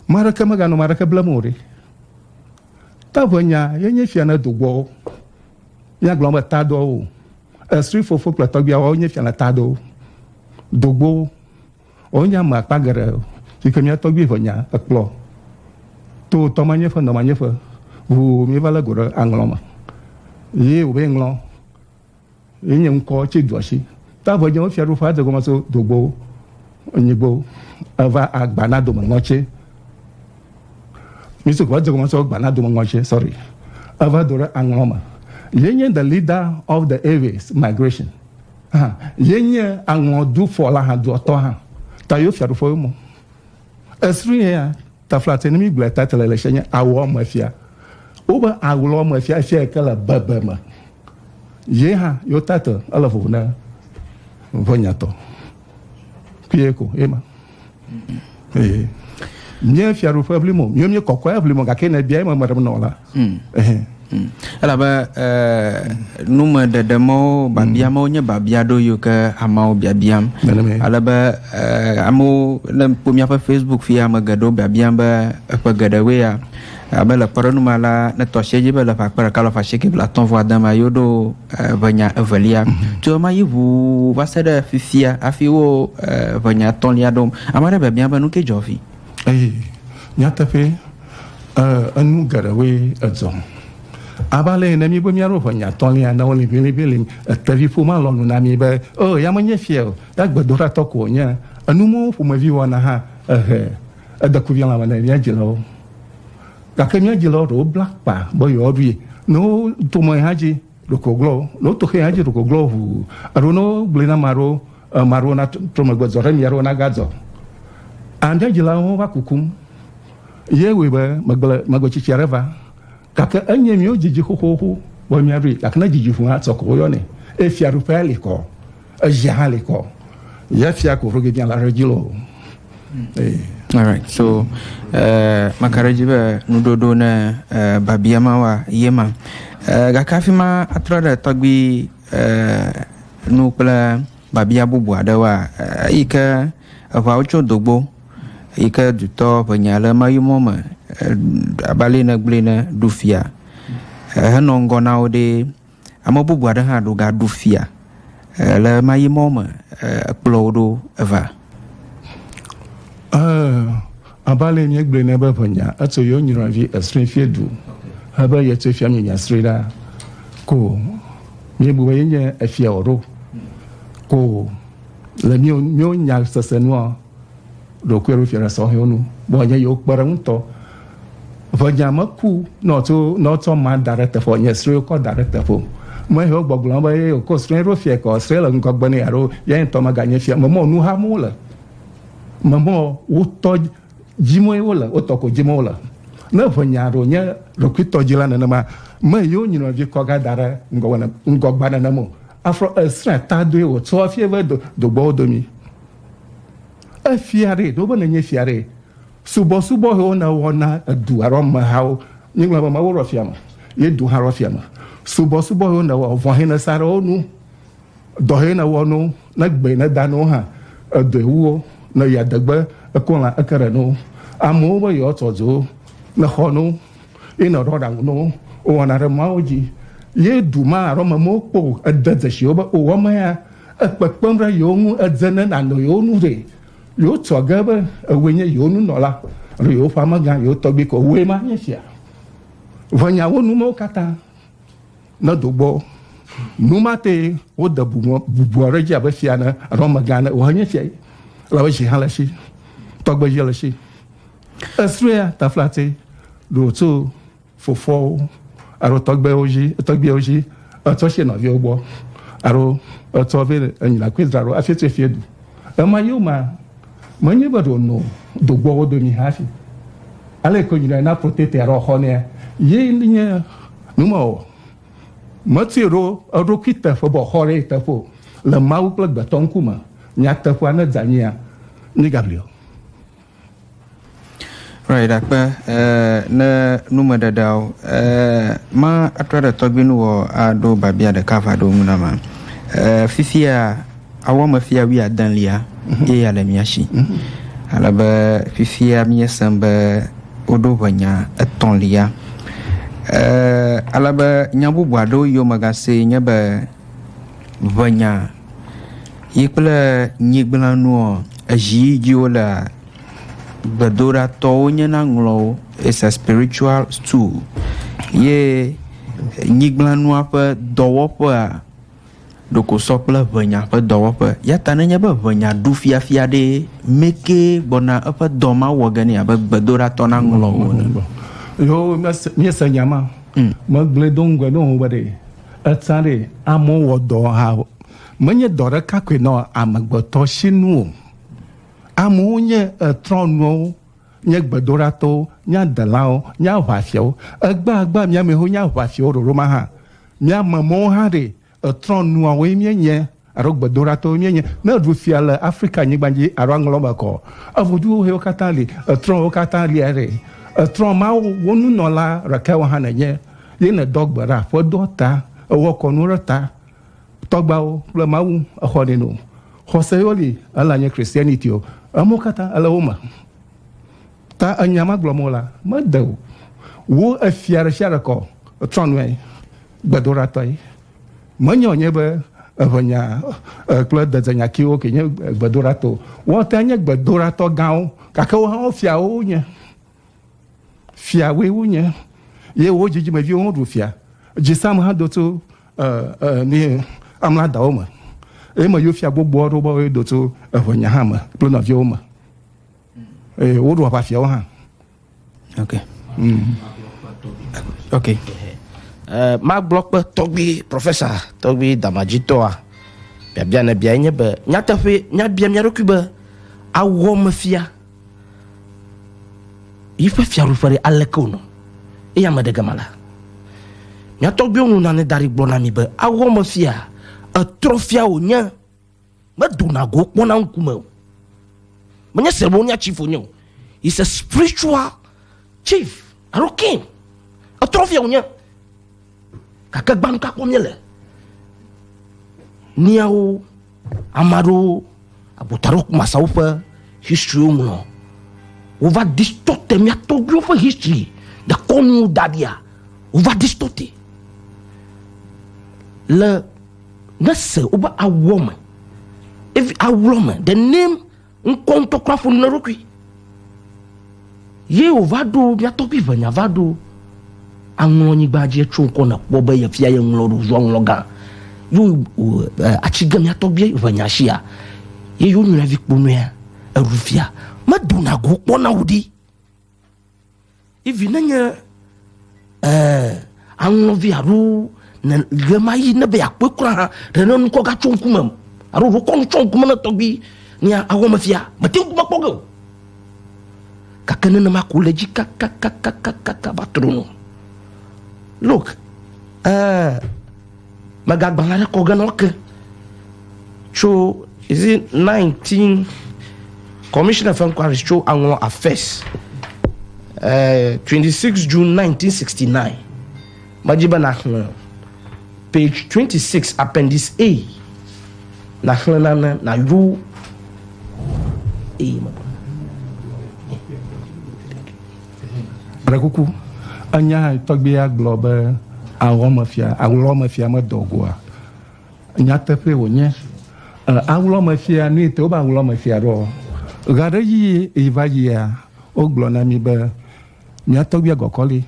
Ma ɖe ke me ga nɔ ma ɖe ke blem o ɖe. Ta ʋe nya ye nye sia ne do gbɔ wo. Mia gblɔ be ta doa wo. Esri fofo kple tɔgbuia woawo nye fiana taɖowo, dogbowo. Wonye ame akpa geɖe si ke mía tɔgbui ʋe nya ekplɔ to tɔ manyeƒe nɔ manyeƒe ŋu míeva lé go ɖe aŋlɔ me. Ye wòbe ŋlɔ ye nye ŋkɔ tsi duɔ si. Ta ʋe nye wo fiaɖuƒe adegɔme so dogbowo. Onyigbo eva agbana dome ŋɔtse. Misi kɔ dze gɔmɔ sɔ gbana dome ŋɔtse sorry. Eva do ɖe aŋlɔ me. Ye nye the leader of the Aves migration. Ha ye nye aŋlɔ du fɔ la ha duɔ tɔ ha. Ta yo fia ɖu fɔ yo mo. Esri ye ya ta fla te ne mi gblɔ ta te le le she nye awɔ me fia. Wo be awlɔ me fia fia ke le bebe me. Ye ha yo ta te ele vovo ne vo nyatɔ. kpuie ko ema ee nye fiaɖuƒe ʋli mo mío mí kɔkɔe ʋli mo gake ne bia eme me ɖem nɔ la hmm. hmm. elabe nume ɖeɖe mɔwo babia mɔwo nye babia ɖo yo ke amewo biabiam alebe amewo ne kpɔ míaƒe facebook fia ame geɖewo biabiam be eƒe geɖewoe ya abe le kpɔɖeŋu ma la ne tɔsie dzi be le ƒe akpa ɖeka lɔ fa shike blatɔ̃ vɔ adama yewo ɖo ʋe nya evelia mm-hmm. tso ema yi ʋu va se ɖe fifia hafi wo ʋe nya etɔ̃lia ɖom ame aɖe biabia be nu ke dzɔ vi eye nyateƒe enu geɖewoe edzɔ abale ene mi be mi alo nya tɔlia na wole bele bele etevi ƒo ma lɔnu na mi be o oh, ya me nye fia o ya gbedo ra tɔko nye enu mo ƒomevi wɔna ha ehe edeku vi la me ne ya dzilawo Gake mía dzilawo ɖewo bla kpa be yewoaɖui. Ne woto mɔ hã dzi ɖoko glɔ̃ wo, ne woto xe hã dzi ɖoko glɔ̃ wo ʋuu, alo ne wogblɔe na ame aɖewo, ame aɖewo natrɔ megbe zɔ ɖe mía ɖo nagadzɔ. A Mía dzilawo hã va kukum ye wɔe be megble megbe tsitsi aɖe va. Gake enye míwo didi xoxoxo be míaɖui. Gake ne didi ʋu hã, sɔ ko woyɔnɛ eye fiaɖuƒea li kɔ. Eya hã li kɔ. Ye fia ko roge biã la re dzi lo. Ee. Alright, so uh, eh, makaɖedzi be nuɖoɖo ne uh, babia ma wa ye ma uh, gake afi ma atrɔ ɖe tɔgbi uh, nu kple babia bubu aɖewoa uh, yi ke eʋawo tso dogbo yi ke dutɔ ʋenya le mayumɔ me uh, abali ne gblui ne ɖu fia uh, henɔ ŋgɔ na wo ɖe Ame bubu aɖe hã ɖo ga ɖu fia le ɣe ma ɣi mɔ me kplɔ wo ɖo va. Abe ale mía gblɔe ne be ʋe nya etso yewo nyrɔa vi esrɔe fie du he be ye tso fia mí nya srɔe ɖa ko mí bu be ye nye efia o ɖo ko le mía mía nya sese nua. ɖokuiwo ɖo fiana sɔhɛwo nu bɔ nye yewo kpe ɖe ŋutɔ ʋe nya me ku nɔ tso nɔ tsɔ ma da ɖe teƒe nye srɔe kɔ da ɖe teƒe me hewo gbɔgblɔ be ye ko srɔe ɖo fia kɔ srɔe le ŋgɔgbe ne alo ya ŋutɔ me ganye fia me mɔ nu ha mo le me mɔ wotɔ dzimoe wo le wotɔ ko dzimoe wo le ne ʋe nya ɖo nye ɖokui tɔ dzi la nenema me yewo nyinɔ vi kɔ ga da ɖe ŋgɔgbe ŋgɔgba nenemo afrɔ esrɛ ta doe wo tsɔ fie ve do dogbɔwo domi Efia ɖe, ɖo be nenye fia ɖe, subɔsubɔ hewo ne wɔ na edu alo amehawo, míegblɔ be Mawu rɔ fia me, ye du hã rɔ fia me. Subɔsubɔ hewo ne wɔ, vɔ̃ he ne sa ɖe wo nu, dɔ he ne wɔ no, ne gbe ne da no hã, edɔe wu wo, ne ya degbe ekɔ lã eke ɖe no. Amewo be yewoa tɔ dzo, ne xɔ no, ye ne ɖɔ ɖaŋu no, wowɔ na ɖe Mawu dzi, ye du ma alo amemewo kpɔ ede dzesiwo be wowɔ me ya. Ekpekpem ɖe yewo ŋu edze ne nànɔ yewo nu ɖee. Yewo tsɔ ge be ewòe nye yewo nunɔla alo yewoƒe amegã, yewo tɔgbui ko. Wòe ma nye fia. Ʋe nya wo numewo katã ne do gbɔ. Nu ma tae wode bubua ɖe edzi abe fia ne alo amegã ne. Wòe nye fia ye. Elabe dzi hã le esi. Tɔgbe dzi le esi. Esrɔ̃a taflatse ɖo tso. fofoawo alo tɔgbewo dzi tɔgbeawo dzi etsɔ si nɔviwo gbɔ alo etsɔ vɛ enyina koe dzra ɖo afi tse fie du ema yio ma menye be ɖo no do gbɔwo domi hafi ale ko nyina na protete alo xɔ ne ye nye numa o meti ɖo eɖokui teƒe bɔ xɔ ɖe teƒe le mawu kple gbetɔ ŋkume nyateƒea ne dzanyia ni gabriel Right, dakpe eh, ne nume ɖeɖeawo eh, ma atrɔ ɖe tɔgbi nu wɔ aɖo babia ɖeka va ɖo nu na ma eh, fifia awɔ me fia wi adelia mhm. ye ya le mia si mhm. ale be fifia miesem be woɖo ʋenya etɔ̃lia eh, ale be nya bubu aɖewo yio megase nye be ʋenya Yi kple nyigblẽ nuɔ, ezi yi dzi wole gbedoɖatɔwo nye na ŋlɔ wo. It's a spiritual tool. Ye nyigblẽ nua ƒe dɔwɔƒea ɖoko sɔ kple ŋɛnya ƒe dɔwɔƒe. Ya ta nenye be ŋɛnya ɖu fiafia ɖe, meke gbɔna eƒe dɔ ma wɔ ge nɛ abe gbedoɖatɔ na ŋlɔ wo ene. Yo, míese nya ma. Megblɔe do ŋgɔe nɔ wò be ɖe Etsã ɖe, amewo wɔ dɔ hã menye dɔ ɖeka koe nɔ amegbetɔ si nu o. Amewo nye trɔ̃nuwo, nye gbedoɖatɔwo, nye adelãwo, nye aʋafiawo. Egbeagbe mía amexoxo nye aʋafiawo ɖoɖo ma hã. Mía amemewo hã ɖe, trɔ̃nuawoe míenye. Alo gbedoɖatɔwoe míenye. Ne èɖu fia le Afrika nyigba dzi alo aŋlɔ me kɔ eŋuduxoxoe wo katã li, ètrɔ wo katã lia ɖe. Ètrɔ Mawu wo nunɔla ɖekaewo hã nènye. Ye nèdɔ gbe ɖa ƒe doa ta, ewɔ kɔnu ɖe ta tɔgbeawo kple Mawu exɔnɛ nu. Xɔse yewo li ela nye Christianity o. Emewo katã ele wo me. Ta enya ma gblɔm wola mede wo efia ɖesiaɖe kɔ o. Ètrɔ nɔe gbedoɖatɔe. Menye wònye be eŋenya kple dedenyakiwo ke nye gbedoɖatɔ o. Woate ŋu nye gbedoɖatɔ gãwo, gake wo hã wo fiawo wonye. Fiawoe wonye. Ye wo dzidzimeviwo hã ɖu fia. Dzisam hã do tso mi amla dawo me. Eye me yewo fia gbogboa ɖo be woe do tso eŋenya hã me kple nɔviawo me. Eye woɖu aʋafiawo hã. ok mm. ok uh, magblɔkpe tɔgbi profesa tɔgbi damadzitɔa biabia ne bia nye be nyateƒe nyabia mia ɖokui be awɔ mefia yiƒe fiaɖuƒe ɖe aleke wonɔ eye ame ɖe gama la miatɔgbiwo nu nane da ɖi gblɔ na mi be awɔ mefia etrɔfia wònye medona go kpɔna ŋkume o menye ceremonial chief wonye o is a spiritual chief alo king etrɔfia wonye gake gbanu kakpɔ mie le niawo ame aɖewo abota ɖo kumasawo ƒe historywo ŋlɔ wova distorte mia tɔgbiwo ƒe history de kɔnu daɖia wova distorte le Nèse woƒe awɔ me, evi awlɔ me, the name ŋkɔ ŋutɔ kura ƒo nu na eɖokui. Ye wòva ɖo mía tɔgbui ʋenya va ɖo aŋlɔ nyigba dzi etso ŋkɔ nèkpɔ be yefia ye ŋlɔ ɖo zua ŋlɔ gã. Yo atsi ge mía tɔgbui ʋenya shia ye yo nyuiavi kpo nɔea eɖu fia. Medona go kpɔna o ɖi. I vi ne nye eh, aŋlɔ vi alo ne ɣe ma yi ne be yakpɔe kura hã ɖe ne nukɔ ga tso ŋkume m alo ɖo kɔ nutsɔ ŋkume ne tɔgbi ne awɔ me fia mete ŋku mekpɔ ge o gake nenema ko le dzi kakakakakaka va tro no look eh, Megagbala ɖe kɔ ge nɔ ke tso is it 19 Commission of Inquiries tso Anglo Affairs uh, 26 June 1969 medzi be naxlẽ page 26 appendix A naxlẽ nane nayo eye Ɖe kuku, ènya tɔgbuia gblɔ be aɣlɔmefia, aɣlɔmefia medɔ go a? Nyateƒee wònye. Aɣlɔmefia, nu yi te wobe aɣlɔmefia ɖo ɔ? Ɣe aɖe ɣi yi va yia, wogblɔ na mí be mía tɔgbuia gɔkɔli.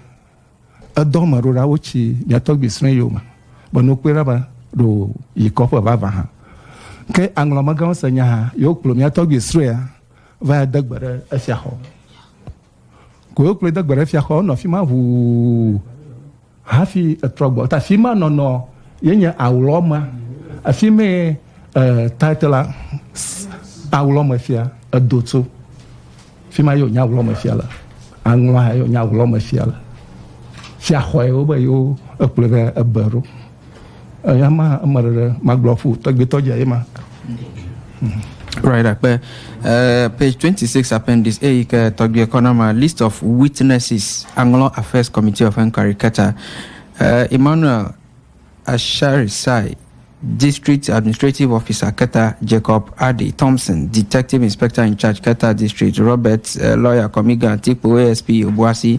Edɔ ame ɖo ɖa wotsi mía tɔgbui srɔ̃ eyome be ne wokpɔe ɖa be ɖo yi kɔƒe vavã hã. Ke aŋlɔmegãwo se nyaha ye wokplɔ mía tɔgbui srɔ̃a. va de gbe ɖe efia xɔ. Ko wokplɔe de gbe ɖe efia xɔ, wonɔ afi ma ʋuu hafi etrɔ gbɔ. Ta afi ma nɔnɔ ye nye awlɔ ma. Afi me eh, title la awlɔ me fia edo tso. Afi ma ye wonye awlɔ me fia le. Aŋlɔ ha ye wonye awlɔ me fia le. Fia xɔe wo be yewo ekplɔe va ebe ɖo. Eyama eme ɖeɖe magblɔ ƒu tɔgbuitɔ dze ema. Right akpe uh, page 26 appendix A yi ke tɔgbuie kɔ na ma list of witnesses aŋlɔ affairs committee of inquiry keta uh, Emmanuel Asharisai district administrative officer keta Jacob Adi Thompson detective inspector in charge keta district Robert uh, lawyer Komiga Tikpo ASP Obuasi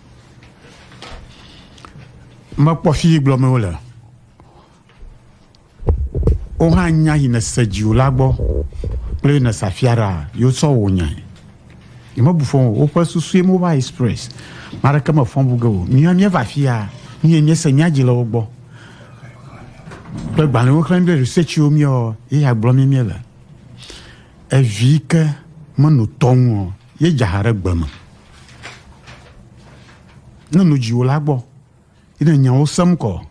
Mekpɔ fi yi gblɔm wole. Wo hã nya yi nèse dziwò la gbɔ kple yi nèse afia ɖa yewo tsɔ wò nyae. Yemebu fɔ o, woƒe susue mobile express. Ame aɖeke mefɔ bu ge o. Míawo míeva afia, míe míese nya dzi le wo gbɔ. Kple gbalẽwo xlẽm ɖe researchiwo míɔ ye ya gblɔ mí míele. Evi ke menɔ tɔ ŋu o, ye dza ha ɖe gbe me. ne nu dziwo la gbɔ ina nyawo sem kɔ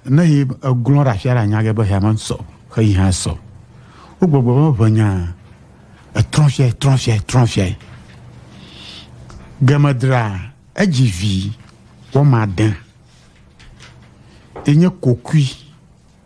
ne yi eglɔn ɖe afia ɖe anya ge be ya me sɔ xe yi hã sɔ wo gbɔgbɔ be ʋe nya etrɔn fia etrɔn fia etrɔn fia gemedra edzi vi wɔma de enye kokui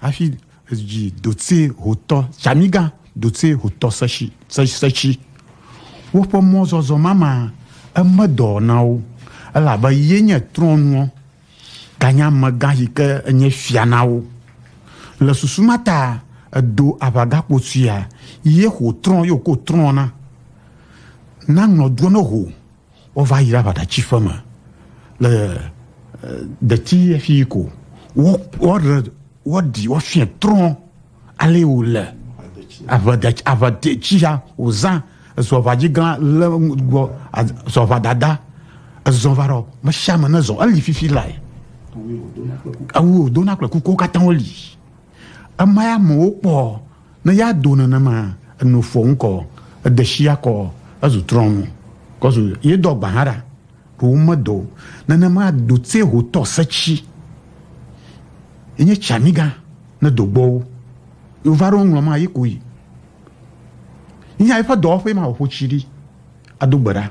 Hafi dzi dotse hotɔ Tsamigã dotse hotɔ seshi setsi. Woƒe mɔzɔzɔ mama eme dɔ na wo elabe ye nye trɔnuɔ ganye amegã yi ke enye fia na wo. Le susu ma ta edo aʋagakpo tsuia ye hotrɔ yo ko trɔna na ŋlɔduɔ ne ho. Wova yi ɖe aʋaɖatsiƒe me le deti efi yi ko wɔɖe wɔɖi wɔfiɛ trɔ ale wo le aʋaɖatsi aʋaɖetsi ya wozã ezɔ aʋadzi gã le gbɔ zɔ aʋadada ezɔ va ɖɔ mesiame ne zɔ eli fifi lae awu wodona kple kukuwo katã woli. Ema ya amewo kpɔ ne ya do nenema eno fɔ ŋkɔ edeshia kɔ ezu trɔnu kɔzu ye do agba hara ɖo medo nenema do tse ho tɔ setsi enye tsamiga ne do gbɔwo yo va ɖo ŋlɔ ma ye koyi nya eƒe dɔwɔƒe ma ƒo tsi ɖi ado gbe ɖa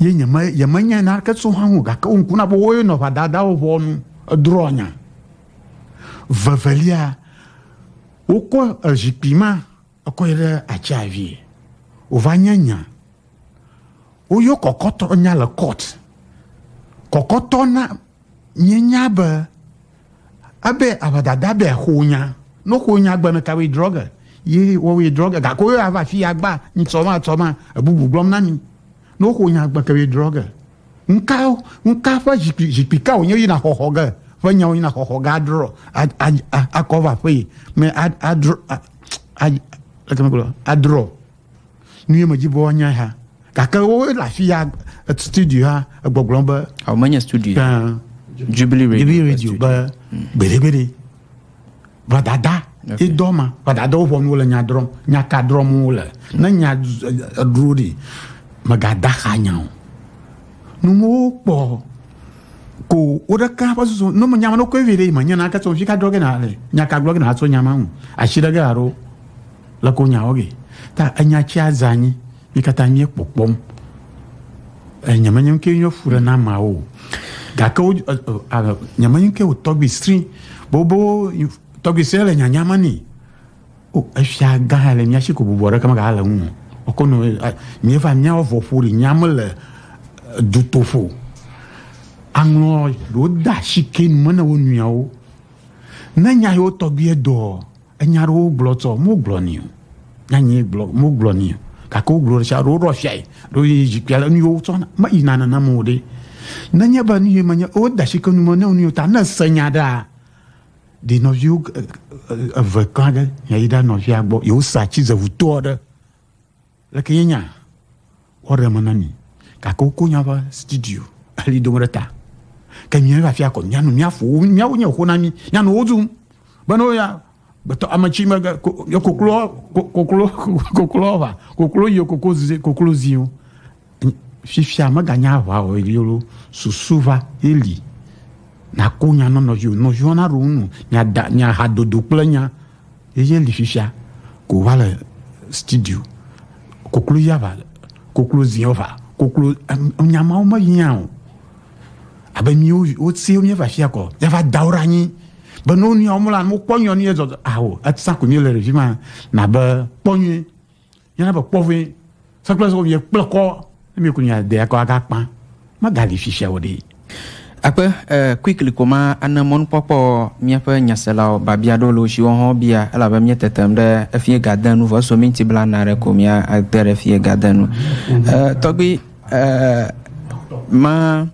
Ye nyeme yemenyae naneke tso hã o gake wo ŋku na be woye nɔ ʋadadawo ʋɔnu edrɔ̃ nya. Vevelia wokɔ ezikpui ma ekɔ yi ɖe atsia vie. Wova nye nya. Woyɔ kɔkɔtɔ nya le court. Kɔkɔtɔ na Míenya be ebe avadada be xonya no xonya gbeme tawe drɔge ye wɔwe drɔge gake wo ava fi agba nsɔma tsɔma ebubu gblɔm na mi no xonya gbe kewe drɔge nka nka ƒe zikpui zikpui ka wonye yina xɔxɔ ge ƒe nyawo yina xɔxɔ ge adrɔ akɔva ƒe me adrɔ adrɔ nu ye medzi be woanyae ha gake wole afi ya studio ha egbɔgblɔm be. awo menye studio. Uh, jubilee radio jubilee radio be hmm. gbedegbede gbadada okay. idɔ ma gbadada wo ƒɔm wole nya drɔm nya ka drɔm wole ne nya dro de megada xa nya o numu kpɔ ko wo ɖeka ƒe susu ne menyama ne koe vi ɖe yi menyana ke sɔ fi ka drɔ ge na le nya ka gblɔ ge na atsɔ nyama ŋu asi ɖe ge alo. Le ko nya oge. Ta enya tsia zanyi. Mi katã mi kpɔkpɔm. Enye menye ŋkee nye fu ɖe na ma o. Gake wo nye menye ŋkee o tɔgbi sri. Bobo tɔgbi sri le nyanya me ni. O efia gã le mia si ko bubɔ ɖe kama ga le ŋu. O ko no mi va mia o vɔ fu ri nya me le dutofo. Anglɔ do da si ke nu mene wo nuyawo. Ne nya yo tɔgbi edo. Enya ɖewo gblɔ tsɔ wogblɔ ni o. Nyanyi gblɔ wogblɔ ni o. Gake wogblɔ ɖe sia ɖe woɖo afia yi. Ɖo yi zikpia le nu yi wotsɔ meyina nenam o ɖe. Nenye be nu yi menye wode asi ke nu me ne nu yi ta ne se nya ɖea ɖe nɔviwo eve kla ge yi ɖe nɔvia gbɔ yewosa tsizevutoa ɖe. Leke nye nya wɔ ɖe eme na mi, gake woko nya ƒe studio heli dom ɖe ta. Ke mi va fia kɔ mianu miafu wo miawo nye xo na mi mianu wo zum be no ya gbetɔ ame tsi me koklo koklo koklo va koklo yi koklo zi koklo ziwo. fifia mèganye aʋawɔlae o, susu va ye li. Nàko nya na nɔviwò, nɔviwò naɖo ŋu nɔ, miada, miaha dodo kple nya. Ye li fifia, ko va le studio. Koklo ya va, koklo ziɔ va, koklo, nya mawo mehiã o. Abe míwo wosee míeva fia kɔ, yava da wo ɖe anyi. Be ne wo nuya wo mlɔ anyi, wokpɔ nyuie ne yedzɔ, ao, etsã ko míele ɖevi ma, nabe kpɔ nyuie. Yana be kpɔ vɛ. Sakple so ye kple kɔ ne mi kunya de akɔ aga kpa. Ma gali fifia wo de. Akpe eh, quickly ko ma ane mɔnukpɔkpɔ míaƒe nyaselawo babia ɖo lo shiwo hɔn bia elabe mía tetem ɖe efie gadenu vɔ eso minti bla na ɖe ko mía ate ɖe efie gadenu eh, tɔgbi Eer ma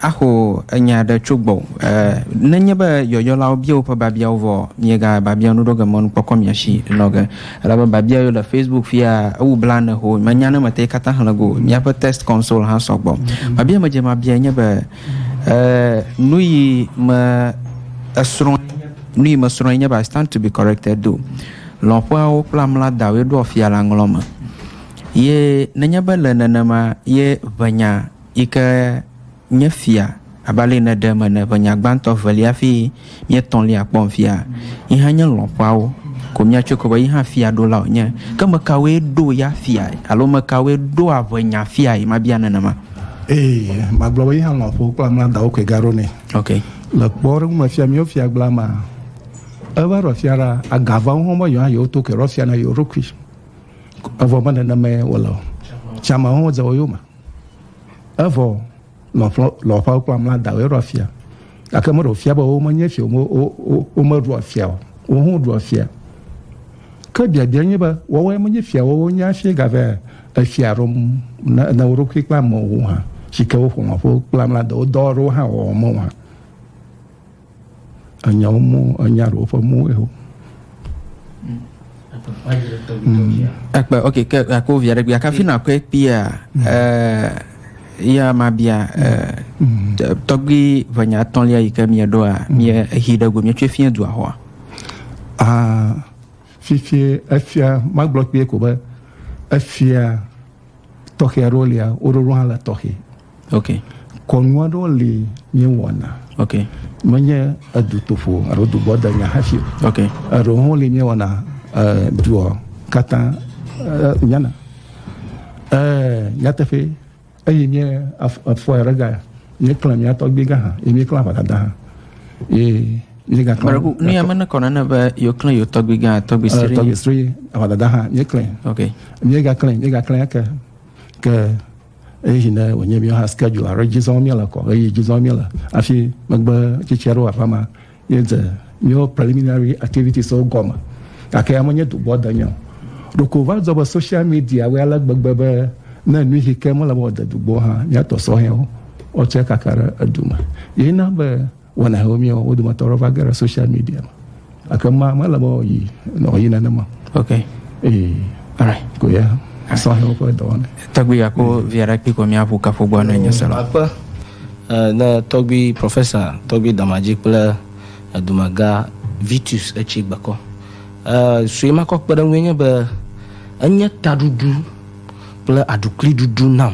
axo enya aɖe tso gbɔ. Eer nenye be yɔyɔlawo bia woƒe babiawo vɔ, miega babia nu ɖo ge mɔnu kpɔkɔ mia si nɔ ge. Elabe babia yiwo le Facebook fia ewu bla ne ho, menya ne mete kata xlẽ go. Miaƒe test console hã sɔ gbɔ. Babia me dze mabia nye be eer nuyi me esrɔ̃ nuyi me srɔ̃ nye be I stand to be corrected do. Lɔƒeawo kple amla dawoe ɖo afia la ŋlɔ me. Ye nenye be le nenema ye ʋenya yi ke nye fia abe ale yi neɖe eme ene, ʋenya gbãtɔ, evelia hafi nye etɔ̃lia kpɔm fia, yi hã nye lɔ̃xoawo ko míatsɔe kpɔ be yi hã fiaɖola wònye. Ke ame kawoe ɖo ya fiae alo ame kawoe ɖoa ʋenya fiae? Mabia nenema. Ee, magblɔ be yi hã lɔ̃xowo kple amea dawo koe gaɖo nɛ. Ok. Le kpɔɖeŋu me fia míwo fia gbla mea, eva ɖɔ fia ɖa, aga va wo hã be yewo hã yewoto koe ɖɔ fia na yewo ɖokui. Evɔ me nenema wòle o. Tsã me hã wodze wo yome. Evɔ lɔ̃xlɔ, lɔ̃xɔ kple amladawoe ɖua fia. Gake meɖe wòfia be womenye fia, wome, wo, wo, womeɖua fia o. Wo hã woɖua fia. Ke biabia nye be, woawoe menye fia, woawo nye hafi gave efia ɖom ne, ne wo ɖokui kple amewo hã, si ke woƒo lɔ̃ƒo kple amladawo dɔ aɖewo hã wɔwɔ me o hã. Enyawo mo, enya ɖewo ƒe mo eo. Ekpe, ok, ke akɔ via ɖe gbia kafi nakɔe kpia ya ma bia tɔgbi ʋenya tɔlia yi ke mie ɖoa mie hi ɖe go mie tso fie dua hoa. Ah, fifi efia magblɔ kpie ko be efia tɔxɛ aɖewo lia woɖoɖo hã le tɔxɛ. Ok. Kɔnu aɖewo li míewɔna. Ok. Menye edutoƒo alo dugbɔdenya hafi. Ok. Eɖewo hã li míewɔna duɔ katã nyana. Nyateƒe eye mie afɔ aɖe ga míeklẽ mía tɔgbi gã hã eye míeklẽ aʋadada hã. Eye míegaklẽ. Nu ya mene kɔna ne be yewoklẽ yewo tɔgbi gã tɔgbi sri. Tɔgbi sri aʋadada hã míeklẽ. Ok. Míegaklẽ míegaklẽ eke ke. eye yi ne wònye míawo hã schedule alo dzi zɔm míele kɔ eye dzi zɔm míele hafi megbe tsitsi aɖewo aƒe ma míedze míawo preliminary activities wo gɔme gake ya menye dogbɔ de nye o ɖeko va dzɔ be social media wɔ ale gbegbe be ne nu yi ke mele be wɔde dogbɔ hã míatɔ sɔhɛwo wɔtsɛ kaka ɖe edu me yina be Wɔna hewo miɔ, wo dometɔ ɖewo va ge ɖe social media me. Ake ma mele be yi nɔ yi nenema. Ok. Ee, alright, ko ya. Asɔ hewo ƒe dɔwɔna. Tɔgbi ya ko via ɖe kpi ko mia ƒu kafu gbɔ ne nye sela. Akpe ne tɔgbi profesa tɔgbi Damadzi kple dumega Vitus etsi gbekɔ. Sue ma kɔ kpeɖeŋu enye be enye taɖuɖu kple aɖukli ɖuɖu nam.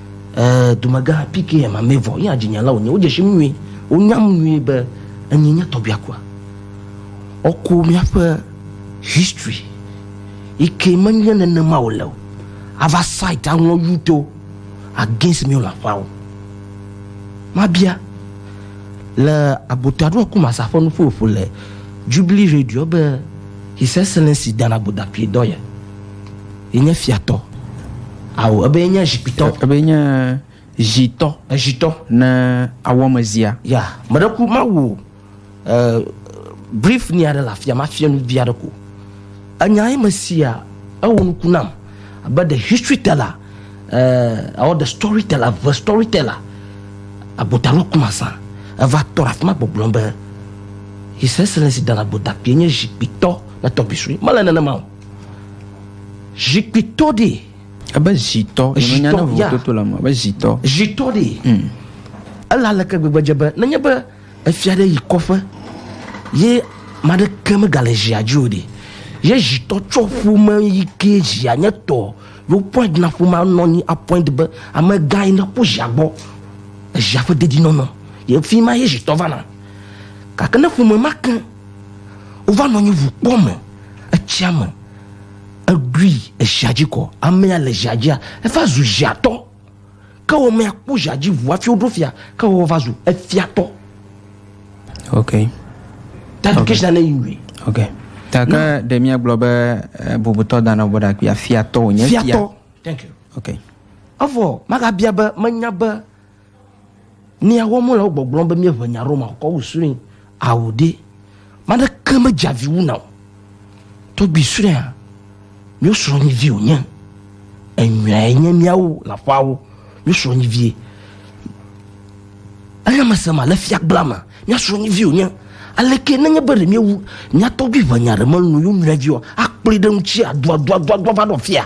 Ɛɛ, dumegã PKM Amevɔ yea dzinyala wònye. Wodze sim nyuie. Wonyam nyuie be enyee nye tɔbiakua. Ɔko míaƒe history yi ke menye nenema wòle o. Ava site aŋlɔ yuto against míawo lãƒawo. Mabia, le agota ɖo aku masa ƒe nuƒoƒo le Jubilee Radio be His Excellency Dan Agboda Pie dɔ ye. Yenye fiatɔ. Ao, ebe yenye zikpuitɔ. Ebe yenye zitɔ. Ezitɔ. Ne awɔmezia. Ya, meɖe ku mawu e, brief ni aɖe le afia, mafia nu vi aɖe ko. Enya ye mesia, ewɔ nuku nam. Abe the history teller, uh, or the story teller, the story teller. Agbotalo kumasa, eva tɔ ɖe afima gbɔgblɔ be, His Excellency Dana Gbodakpie nye zikpuitɔ le tɔgbi sue. Mele nenema o. Zikpuitɔ ɖe. Ebe zitɔ. Zitɔ ya. Toto le me. Ebe zitɔ. Zitɔ ɖe. Hmm. Ela leke gbegbe dze be nenye be efia ɖe yi kɔƒe ye maɖe ke megale zia dzi o ɖe. Ye zitɔ tsɔ ƒome yi ke zia nye tɔ. Yo point na ƒomea nɔ anyi apoint be amegã yi neƒu zia gbɔ. Ezia ƒe dedinɔnɔ. Ye fi ma ye zitɔ vana. Gake ne ƒome ma ke. Wova nɔ anyi ŋu kpɔ me, etsia me. Eɖui ezia dzi kɔ. Amea le zia dzia, eva zu ziatɔ. Ke wɔ mea kpɔ zia dzi ŋu hafi woɖo fia. Ke wɔ va zu efiatɔ. Okay. Ta education okay. ne yi Okay. Ta ke ɖe mia gblɔ be eh, bubutɔ dana bɔ ɖakpia fiatɔ wonye fia. Fiatɔ. Thank you. Okay. Avɔ magabia be menya be Nia wɔmɔ le wo gbɔgblɔm be míeʋe nya ɖo ma kɔ wu srɔ̃e ao ɖe. Mane ke me dza vi wu na o. Tɔgbi srɔ̃a mío srɔ̃ nyi vi o nye. Enyɔe nye míawo la ƒawo mío srɔ̃ nyi vie. Anya me se ma le fia gbla ma mío srɔ̃ nyi vi o nye. Ale ke nenye be ɖe míewu mía tɔgbi ʋe nya ɖe me nu yo nyɔe vi o akplɔe ɖe ŋutsi a dua dua dua dua va ɖɔ fia.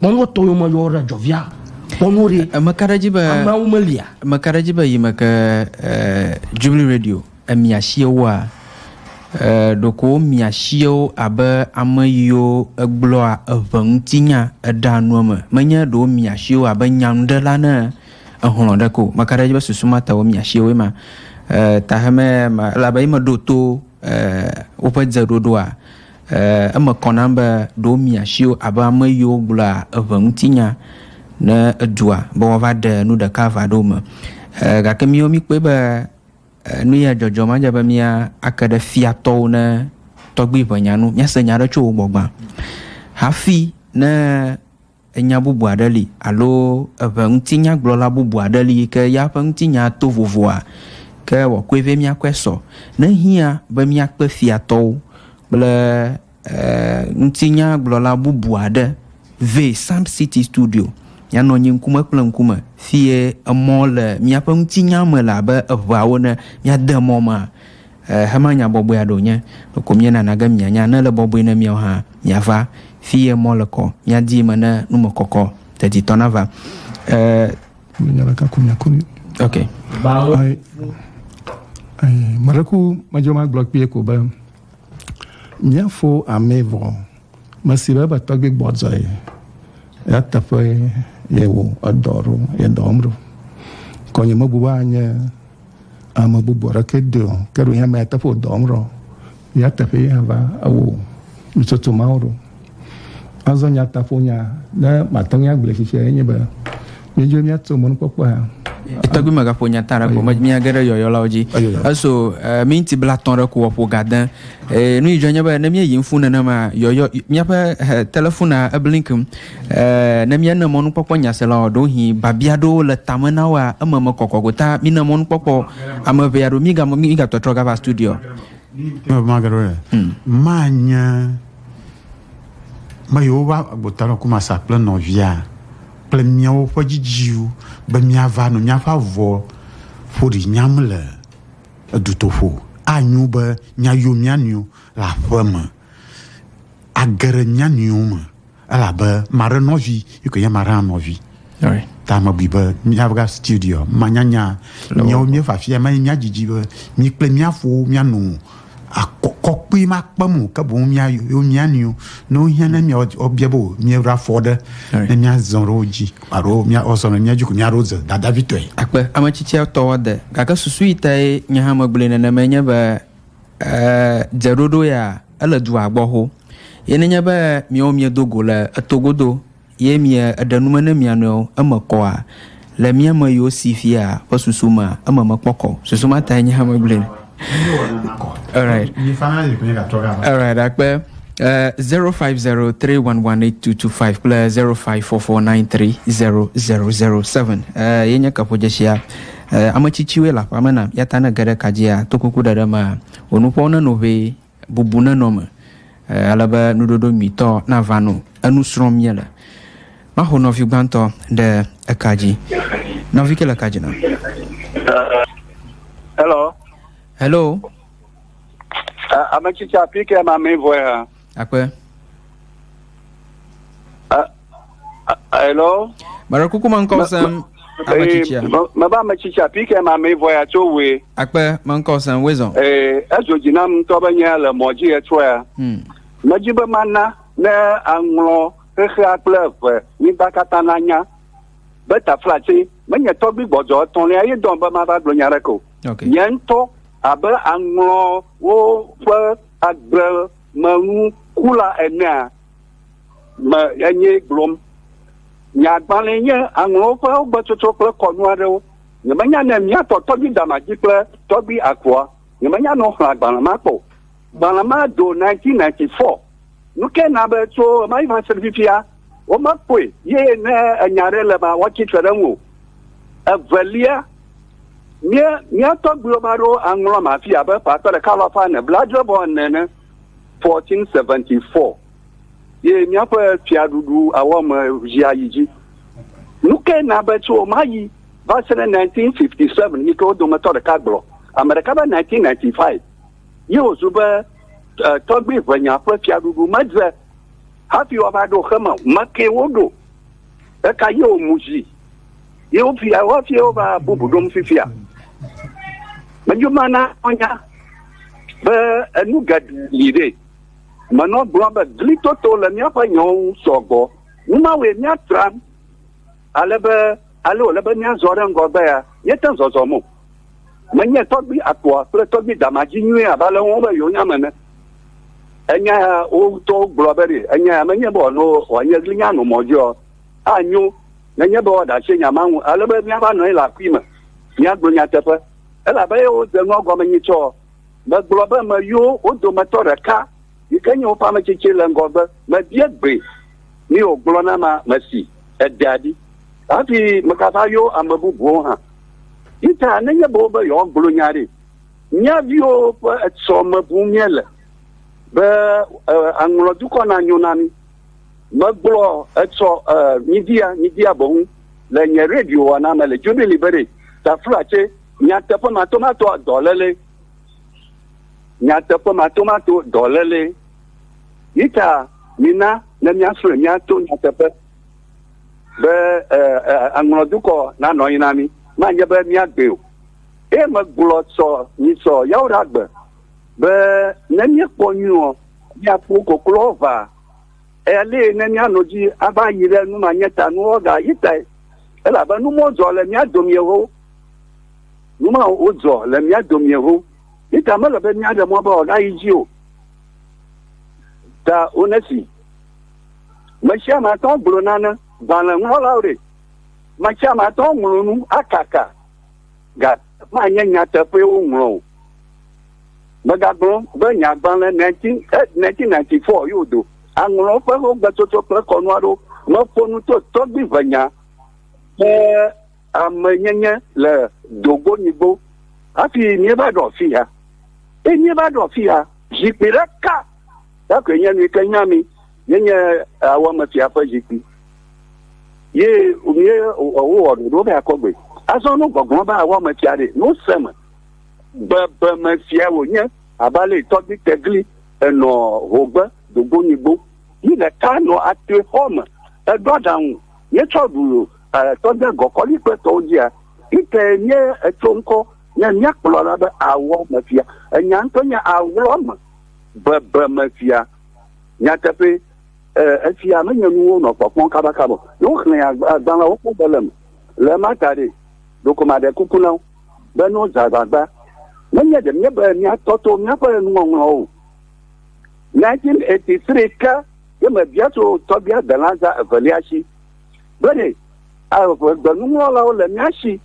Kpɔnɔ tɔ yɔ me yɔ ɖe jɔvia. Kpɔnɔ ɖe. Emeka ɖe dzi be. Ameawo melia. Emeka ɖe dzi be yi me ke eh, Jubilee Radio emia shiewoa eh, ɖoko womia shiewo abe ame yiwo egblɔa eŋe ŋuti nya eɖea nu eme. Menye ɖe womia shiewo abe nyanuɖela ne ehlɔ ɖe ko. Meka ɖe dzi be susu ma ta womia shiewoe ma. Eh, tahemɛ ma, elabe yi me ɖo to eh, woƒe dze ɖoɖoa. Ɛ̃, eme kɔ nam be ɖewo mia asi wo abe ame yiwo gblɔa eŋe ŋuti nya ne edua be woava ɖe nu ɖeka ava ɖe wo me. Ɛ̃, gake míwo míkpɔe be nu ya dzɔdzɔm adze be mía ake ɖe fia tɔwo ne tɔgbi ʋe nya nu, míase nya aɖe tso wo gbɔ gbã. Hafi ne Enya bubu aɖe li alo eŋe ŋutinyagblɔla bubu aɖe li yi ke ya ƒe ŋutinyaa to vovoa? Ke wòakɔe vɛ míakpɔe sɔ. Ne hiã be míakpe fiatɔwo kple ŋutinyagblɔla bubu aɖe vɛ Psalm City Studio míanɔ anyi ŋkume kple ŋkume fiye emɔ le míaƒe ŋutinya me le abe eŋeawo ene míade mɔ mea, Xexemea nya bɔbɔe aɖe wònye. Ɖeko míenana ge mianya ne ele bɔbɔe ne míawo hã míava fi ye mɔ le kɔ, míadi eme ne numekɔkɔ deditɔ nava. E. Menya ɖeka ko miaku ni. Ok. Bawo. Ai, ai, mɔɖe ku medzo magblɔ kpee ko be míafo amee vɔ mesi be ebe tɔgbi gbɔdzɔe ya teƒe ye wo edɔ ɖo ye dɔ wɔm ɖo. Kɔnye mebu be anye Ame bubu aɖeke de o, ke ɖo ya mea teƒe dɔ wɔm ɖo. Ya teƒe ya va ewo nutsotso mawo ɖo. Azɔ nya taƒo nya ne mate ŋu agblẽ tsitsia enye be míedzro míatso mɔnukpɔkpɔ ya. Tɔgbi megaƒo nya ta ɖe ko me mía ge ɖe yɔyɔlawo dzi. Eso eh, minti blatɔ̃ ɖe ko ƒo gade. Eh, nu yi dzɔ nye be ne míeyi ŋfu nenema yɔyɔ míaƒe eh, telefona eblinkim. Ɛɛ, ne míene mɔnukpɔkpɔ nyasela o, ɖewohĩ biabia aɖewo le tame na woa, eme mekɔkɔ gota. Mine mɔnukpɔkpɔ ame ʋɛ aɖewo. Míga, mígatɔtrɔ gava studio. Eme magero ɖe. Hmm. Manye me yewo va gbota nɔ kumasa kple nɔvia kple miawo ƒe dzidziwo be miava nɔ miaƒe avɔ ƒoɖi nyam le edutoƒo. Anyo be miayo mia nɔewo le aƒeme. Age ɖe mia nɔewo me. Elabe maɖe nɔvi, yi koe nye maɖe hã nɔvi. Oi. Ta mebui be míava studio manyanya nyewo míeva afia me míadzidzi be mí kple mía fowo míano akɔkɔkpui makpem o ke boŋ míayo mía nɔewo ne wohiã ne mía wobia be míeɖo afɔ ɖe ne míazɔ ɖe wo dzi alo míazɔ ɖe mía dzi ko míaɖo ze dadavitɔe. Akpe, ame tsitsia tɔ wɔ de, gake susu yi tae nye hã megblɔe nenemae nye be E dze ɖoɖo ya ele dua gbɔ ho. Ye nenye be miawo miedo go le eto godo ye mie eɖe nume ne mia nɔewo eme kɔa, le mia me yiwo si fia ƒe susu mea, eme mekpɔ kɔ o. Susu ma tae nye hã megblɔe ɖo. Alright, akpe. Uh, 0503118225 kple 0544930007 uh, ye nye kaƒodzeshia E, ame tsitsiwoe le aƒea me nam, yata ne ge ɖe ka dzia, tokuku ɖeɖe mea, wò nuƒoawo nenɔ ʋɛ, bubu nenɔ eme, e, ale be nuɖoɖo nyuitɔ nava no. Enu srɔ̃m míele. Maxo nɔvi gbãtɔ ɖe eka dzi. Nɔvi ke le ka dzi nam. Hello. Hello. A- Ame tsitsi afi ke ma mi vɔe ha. Akpe. A- Hello. Mara kuku ma ŋkɔ sem ame tsitsia. Mebe ame tsitsia pike ma me vɔ ya tso we. Akpe ma ŋkɔ sem we zɔn. Ee edzo dzi nam ŋutɔ be nye le mɔ dzi etrɔ ya. Hmm. Medzi be mana ne aŋlɔ xexea kple eve nyigba katã na nya be taflatse menye tɔgbi gbɔdzɔ etɔ̃lia ye dɔn be mava gblɔ nya ɖeke o. Okay. Nye ŋutɔ abe aŋlɔwo ƒe agbe menu kula enea me enye gblɔm. Nye agbalẽ nye aŋlɔwo ƒe wogbetsotso kple kɔnu aɖewo. Nyemenya ne mía tɔ tɔgbui Damaji kple tɔgbui Akua, nyemenya ne woxlẽ agbalẽ ma kpɔ o. Gbalẽ ma do 1994. Nukae na be tso ɣemaɣi va se ɖe fifia womekpɔe ye ne enya aɖe le ema woatsi tre ɖe eŋu o? Evelia, mía tɔgbuiwo ame aɖewo aŋlɔm afi abe ƒe akpe ɖeka alafa ene, blaadre vɔ ene ene. 1474 ye míaƒe fiaɖuɖu awɔme zia yi dzi. Nu ke na be tso ɣema ɣi va se ɖe 1957 yi ke wo dometɔ ɖeka gblɔ, ame ɖeka be 1995 ye wòzu be eh, tɔgbui ʋenya ƒe fiaɖuɖu medze hafi woava ɖo xeme o. Mekee woɖo. Eka ye wo mu zi. Ye wo fia, wo fia wo va bubu ɖom fifia. Medzo ma na ɔnya be enu geɖe li ɖe. Menɔ gblɔ be gli toto le míaƒe nyawo ŋu sɔgbɔ. Nu ma wɔe míatra ale be ale wòle be míazɔ ɖe ŋgɔgbe ya, míete zɔzɔm o. Menye tɔgbi akpoa kple tɔgbi dama dzi nyuie abe ale wɔm be yewonya me ne. Enya ya wo ŋutɔwo gblɔ be ɖe enya ya menye be wòano wòanye glinya ano mɔ dzi ɔ, anyo nenye be woaɖe asi nya ma ŋu ale be míava nɔ anyi le akui me míagblɔ nyateƒe. Elabe eye wode nua gɔme nyuie tsɔ ɔ, megblɔ be meyo wo dometɔ ɖeka yi ke nye woƒe ame tsitsi le ŋgɔgbe mebia gbee ni wògblɔ nam ame si edea ɖi hafi megava yo ame bubuwo hã Yuda nenye be wobe yewoagblɔ nya ɖi. Mía viwo ƒe etsɔ me bum míele be aŋlɔ dukɔ na nyo na mí. Megblɔ etsɔ midia midia boŋ le nye radio wɔna me le Jubilee be ɖe tafla tse nyateƒe matomato dɔléle nyateƒe matomato dɔléle. Yuda mina ne míasrɔ̃e míato nyateƒe. be aŋlɔ dukɔ na nɔ anyi na mi ma nye be miagbe o eye megblɔ sɔ nyi sɔ yawo ɖe agbe be ne miekpɔ nyuiɔ miaƒo koklo va eya li ne mianɔ dzi ava yi ɖe nu ma nye ta nu wɔga yi tae elabe nu mɔ dzɔ le mia domie ho nu ma wodzɔ le mia domie ho yi ta mele be miaɖe mɔ be wɔga yi dzi o ta onesi Mesiame atɔ gblɔ nane, gbalẽŋlɔlawo ɖe? Mesiame atɔ ŋlɔ nu akaka, gake manye nyateƒee woŋlɔ o. Megagblɔ be nye agbalẽ 1994 eh, yodo aŋlɔ eƒe ƒomegbetotɔ kple kɔnu aɖewo. Meƒo nu to tɔgbiʋenya ƒe. Amenyenye le Dogonyigbo hafi míeva ɖo afi ya. Eye míeva ɖo afi ya, zikpui ɖeka ya koe nye nu yi ke nya mi, yenye Awɔmefia ƒe zikpui. Ye mí wowɔ ɖoɖo be akɔ gbɔe. Azɔ ne gbɔgblɔ be Awɔmefia ɖe, ne wose me, bebemefia wònye abe ale tɔgbi tegli enɔ hogbe Dogonyigbo. Yi ɖeka nɔ atrixɔ me, eɖo aɖaŋu, míetsɔ ɖu. Tɔde gɔkɔli kple tɔwo dzia, ite nye etso ŋkɔ nye mía kplɔla be awɔ me fia. Enya ŋutɔ nye awɔ me bebe me fia. Nyateƒe, efia menye nuwo nɔ kpɔkpɔm kabakaba. Ne woxlẽ agbalẽawo kpɔ be le eme. Le ema ta ɖe, ɖeko maɖe kuku na wo be ne wozã agbagba, menye ɖe míebe míatɔ to míaƒe nuŋɔŋlɔwo o. 1983 ke ye mebia tso tɔgbia delã zã evelia si. Bene, eve gbenuŋlɔlawo le mía shi.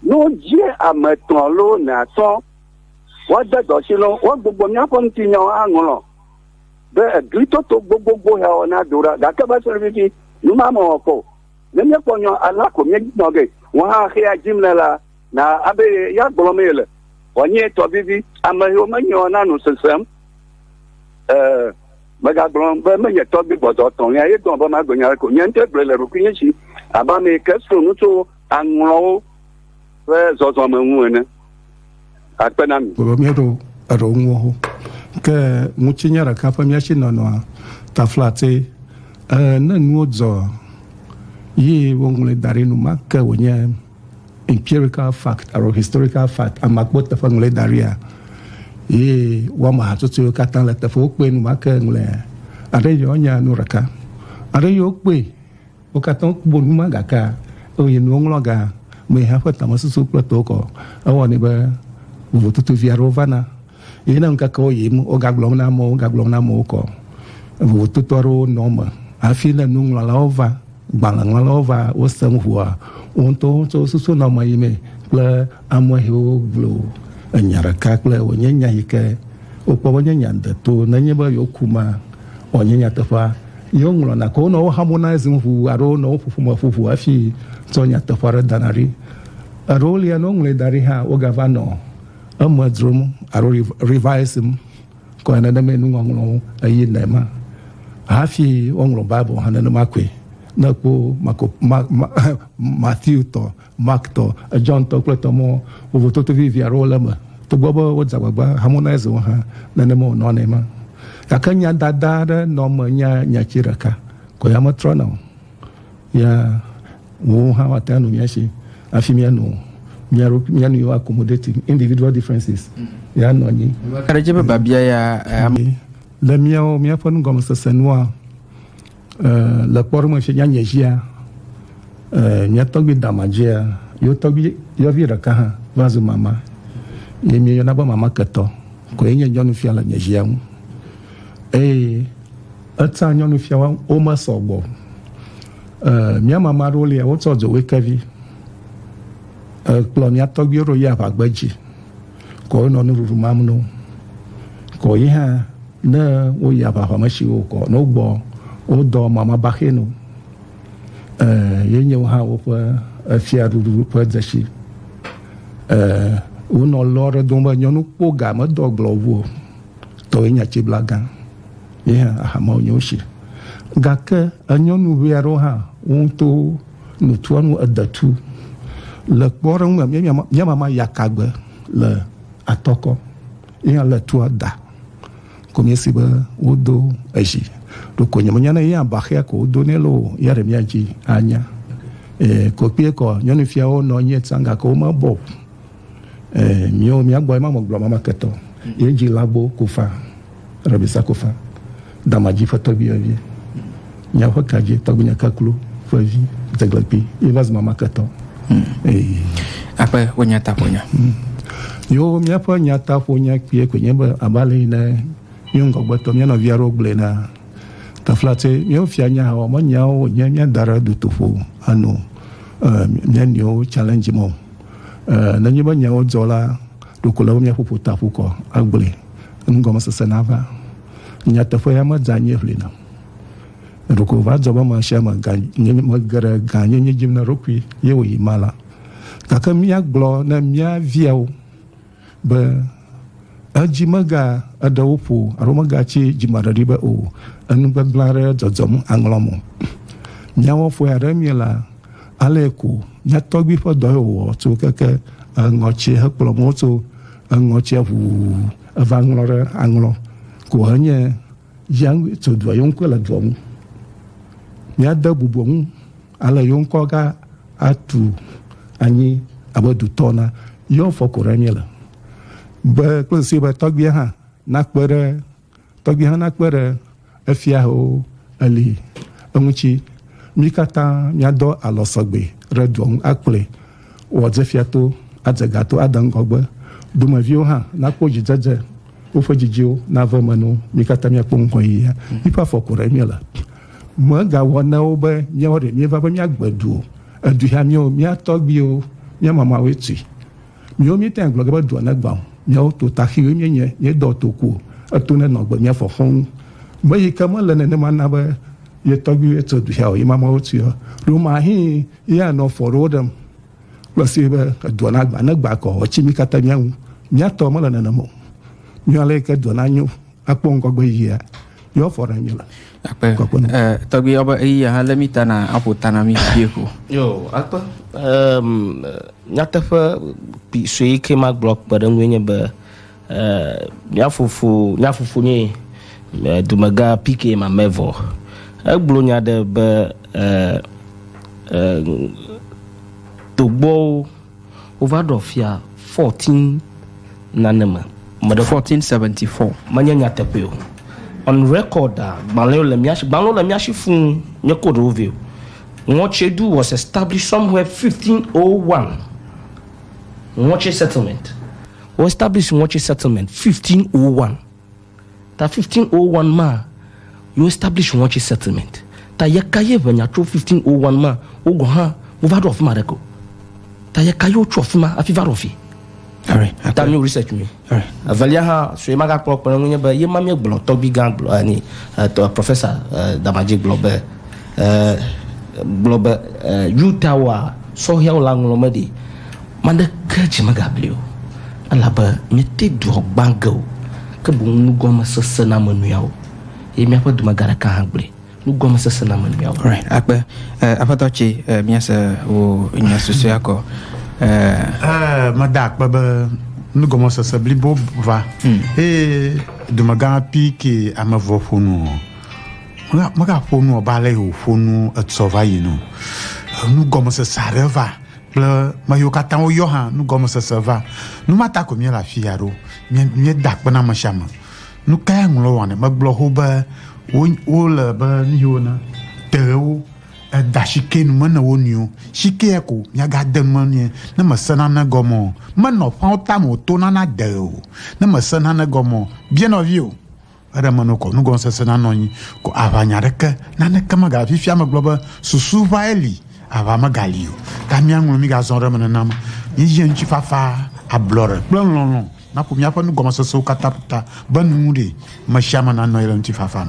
Ne wodze ame etɔ̃ loo ene atɔ woade dɔ tsi lɔ, woagbugbɔ míaƒe ŋutinyawo aŋlɔ be eglitoto gbogbogbò ya wɔ na do ɖa. Gake va se ɖe fifi, nu ma mewɔ kpɔ o. Ne míekpɔ nyɔ alea ko míenɔ ge. Wò hã xeya dim le la, na abe ye ya gblɔmee yele wòanye tɔ vivi. Ame yiwo menyeɔ na nu sesem e. Megagblɔ be menye tɔgbi gbɔdɔ etɔ̃lia ye dɔm be magblɔ nya aɖeke o. Nye ŋutɔe gblɔe le ɖokuinye si abe ame yi ke srɔ̃ nu tso aŋlɔwo ƒe zɔzɔme ŋu ene. Akpe na mi. Vɔ míeɖo eɖewo ŋuwo ho. Ke ŋutinye ɖeka ƒe mía si nɔnɔa taflatse. Ẽ, ne nuwo dzɔa, yi woŋlɔe da ɖi enumake wònye. Empirical fact alo historical fact, ame akpɔ teƒe ŋlɔe da ɖia, ye woame hatsotso yiwo katã le teƒe wokpɔe nu ma ke ŋlɔe. Aɖe yɔ nya nu ɖeka. Aɖe yɔ kpɔe, wo katã wokpɔ nu ma gake eye nuwo ŋlɔ ga me hã ƒe tamesusu kple tokɔ. Ewɔnɛ be vovototovi aɖewo vana. Eye ne ŋkekewo yiyim, wogagblɔm na amewo, wogagblɔm na amewo kɔ vovototo aɖewo nɔ eme hafi ne nuŋlɔlawo va, gbalẽŋlɔlawo va, wose nu ŋua, wo ŋutɔwo tsɛ wosusu nɔ eme yimee kple amehewo glo enya ɖeka kple wònye nya yi ke wokpɔ be nye nya deto nenye be yewoku ma ɔ nye nyateƒea ye woŋlɔna ko nɔ woharmonizing ŋu alo nɔ woƒoƒo me ƒu ŋu hafi tsɔ nyateƒe aɖe dana ɖi. Eɖewo lia ne woŋlɔe da ɖi hã wogava nɔ Eme dzrom alo revising kɔe nenemae nuŋɔŋlɔwo eye nɛ ma hafi woŋlɔ Bible hã nenema koe. Ne èkpɔ Marko, Ma, Ma, Matthew tɔ, Mark tɔ, John tɔ kple etɔ mɔ vovototo vivi aɖewo le eme. Togbɔ be wodze agbagba harmonize wo hã, nenema wònɔ nɛ ma. Gake nyadada aɖe nɔ eme nye nyati ɖeka koe, ame trɔna o. Ya wòwo hã woate ŋu anu mía si hafi míanu mía ɖokui, míanu yewo accommodating individual differences. Ya nɔ anyi. Ka ɖe edzi be biabia ya eh, ame. Le míawo, míaƒe nugɔmesese nua, eh, le kpɔɖeŋu si nyanye dzia, eh, mía tɔgbui dama dzia, yewo tɔgbui yɔvi ɖeka hã va zu mama, ye míeyɔna be mama ketɔ koe nye nyɔnufia le nye zia ŋu. Eye. Etsã nyɔnufia wa wo me sɔ gbɔ. E mia mama aɖewo lia wo tsɔ dzowe kevi. E kplɔ mia tɔgbi ɖo yi aʋagbe dzi. Kɔ wo nɔ nuɖuɖu mam no. Kɔ yi hã ne wo yi aʋaʋa me shi wo kɔ no gbɔ wo dɔ mama baxe no. E ye nye wo hã wo ƒe efia ɖuɖu ƒe dzesi. E wo nɔ lɔ ɖe dom be nyɔnu kpo ga me dɔ gblɔ wo. Tɔ ye nya tsi bla gan. ye hã ahamewo nyo si. Gake enyɔnu ʋɛ aɖewo hã wo ŋutɔ nutua nu edetu le kpɔɖeŋu me míamama yakagbe le atɔkɔ ye hã le tua da ko míesi be wodo ezi ɖoko nyemenya ne yea baxea ko wodo nɛ loo ya ɖe míadzi anya. Ee, ko kpee kɔ nyɔnufiawo nɔ anyi etsã gake womebɔ o. Mìwo mìagbɔ ye ma mɔ gblɔ mama ketɔ. Ye dzi lagbo kofa, rɛbisa kofa, damadzi ƒe tɔgbiɛvi. Mìa ƒe kadzi tɔgbinya kaklo ƒe vi dzeglekpi ye va zu mama ketɔ. Aƒe wo nya ta ƒonya. Yo mìa ƒe nya ta ƒonya kpiɛ koe nye be aba le yi ne mìwo ŋgɔgbetɔ mìa nɔvia ɖewo gblɔe na. Tafla tse mìwo fia nya hã wɔmɔ nyawo nye mìa da ɖe dutoƒo ano mìa nɔewo challenge mɔ. Ɛɛ, nenye be nyawo dzɔ la, ɖeko ele be míaƒu ƒutaƒukɔ agblɔe, enugɔmesese nava. Nyateƒea medze anyi ʋli nam. Ɖeko va dzɔ be amesiame ga nye mege ɖe gãnyenye dzi na eɖokui ye wòyi ma la. Gake míagblɔ ne mía viawo. be edzi mega eɖe wo ƒo alo mega tsi dzimaɖeɖi be o enu gbegblẽ aɖe dzɔdzɔm aŋlɔ mo. Miawɔ fɔe aɖe mie la, ale ko mia tɔgbi ƒe dɔ ye wòwɔ tso keke eŋɔtsi hekplɔ mo tso eŋɔtsia ʋu eva ŋlɔ ɖe aŋlɔ ko henye ya tso dua ye ŋkɔe le dua ŋu. Miade bubu ŋu. Ale yo ŋkɔ ga atu anyi abe dutɔ na yɔ fɔ ko ɖe mí le. Be kple si be tɔgbia hã nakpe ɖe tɔgbia hã nakpe ɖe efia ho eli eŋutsi. Mí katã mía dɔ alɔ sɔgbe ɖe dua ŋu akplɔe. woadze fiato, adze gato, ade ŋgɔgbe, domeviwo hã nakpɔ dzidzedze, woƒe dzidziwo nave eme no, mí katã míakpɔ ŋgɔyiyia. Míƒe afɔ ko ɖe míele. Megawɔ na wo be míawo ɖe míeva be míagbe du o. Edui hã míawo, mía tɔgbiwo, mía mamawoe tui. Míwo míetɛa gblɔ ge be dua negbã o. Míawo to taxiwoe míenye, míedɔ toku o. Eto nenɔ gbe mía fɔ xɔŋ. Meyi ke mele nenema na be ye tɔgbiwoe tso duhea o, ye mamawo tuia o. Ɖo mahee. Eya nɔ fɔ ɖewo ɖem kple si be edua na gba ne gba kɔ etsi mi katã mía ŋu. Mía tɔ mele nenem o. Mía le ke dua na nyo akpɔ ŋgɔgbe yia yɔ fɔ ɖe mi le. Akpe. Kɔkɔ ne. Eh, tɔgbi yɔ be eyi aha le mi ta na aƒo ta na mi vie ko. Yo, akpe. Eh, nyateƒe kpi sue yi ke ma gblɔ kpe ɖe ŋu nye be. Mía fofo, mía fofo nye dumegã PK Mamevɔ. Egblɔ nya ɖe be togbɔwo wova ɖɔ fia 14 nane me. 1474. Menye nyateƒe o. On record, gbalẽwo le mía si, gbalẽwo le mía si fũu, nye code wo vɛ o. Ŋɔtsedu was established somewhere 1501. Ŋɔtse settlement. Wo establish Ŋɔtse settlement 1501. Ta 1501 ma yo establish Ŋɔtse settlement. Ta yeka ye ŋɛnya tso 1501 ma wo gɔn hã wo va ɖo afima ɖeke o. Ta yeka yo tso afima afi va ɖo afi. Ta mio research mi. Evelia hã sue ma ga kplɔ kpe ŋu nye be ye ma mie gblɔ tɔgbi gã gblɔ ani eh, professor eh, Damadji gblɔ be eh, gblɔ be eh, Utah wa sɔhɛwo la ŋlɔ me ɖi. Ame aɖeke dzi megabli o, elabe míete dua gbã ge o, ke boŋ nugɔmesese na ame nɔeawo, eye míaƒe dumegã ɖeka hã gblɔe, nugɔmesese na ame nɔeawo. Right, akpe. Eh, Aƒetɔ tsi, eh, míese wò nya susɔea kɔ. Eh. Eh, meda akpe be nugɔmesese blibo va, hmm. eye dumegã pi ke ame vɔ ƒo nu o. Mega ƒo nu o, ba le wò ƒo nu etsɔ va yi nu. Nugɔmesese aɖe va. kple me yiwo katã woyɔ hã nu gɔmesese va. Nu ma ta ko míele afi ya ɖo. Míeda akpe na ame sia ame. Nu ka ya ŋlɔ wɔnɛ? Megblɔ xoxo be wole be nu yiwo na teɣewo eda shike nu me ne wo nɔewo. Shike ya ko miagade nu me nɛ ne mese nane gɔme o. Menɔ ƒãwo tame wòto nana de ɣe o. Ne mese nane gɔme o, bia nɔviwò. Eɖe meno ko nugɔmesese nanɔ anyi, ko aʋanya aɖeke, naneke megaʋã. Fifia megblɔ be susu ʋãe li, aʋã megali o. Ta míaŋlɔ, migazɔ ɖe eme nenema. Míeyia ŋutifafa, ablɔɖe kple lɔlɔ̃ naƒo míaƒe nugɔmesesewo katã ƒu ta be nuŋuɖee, ame sia ame nanɔ anyi ɖe ŋutifafa me.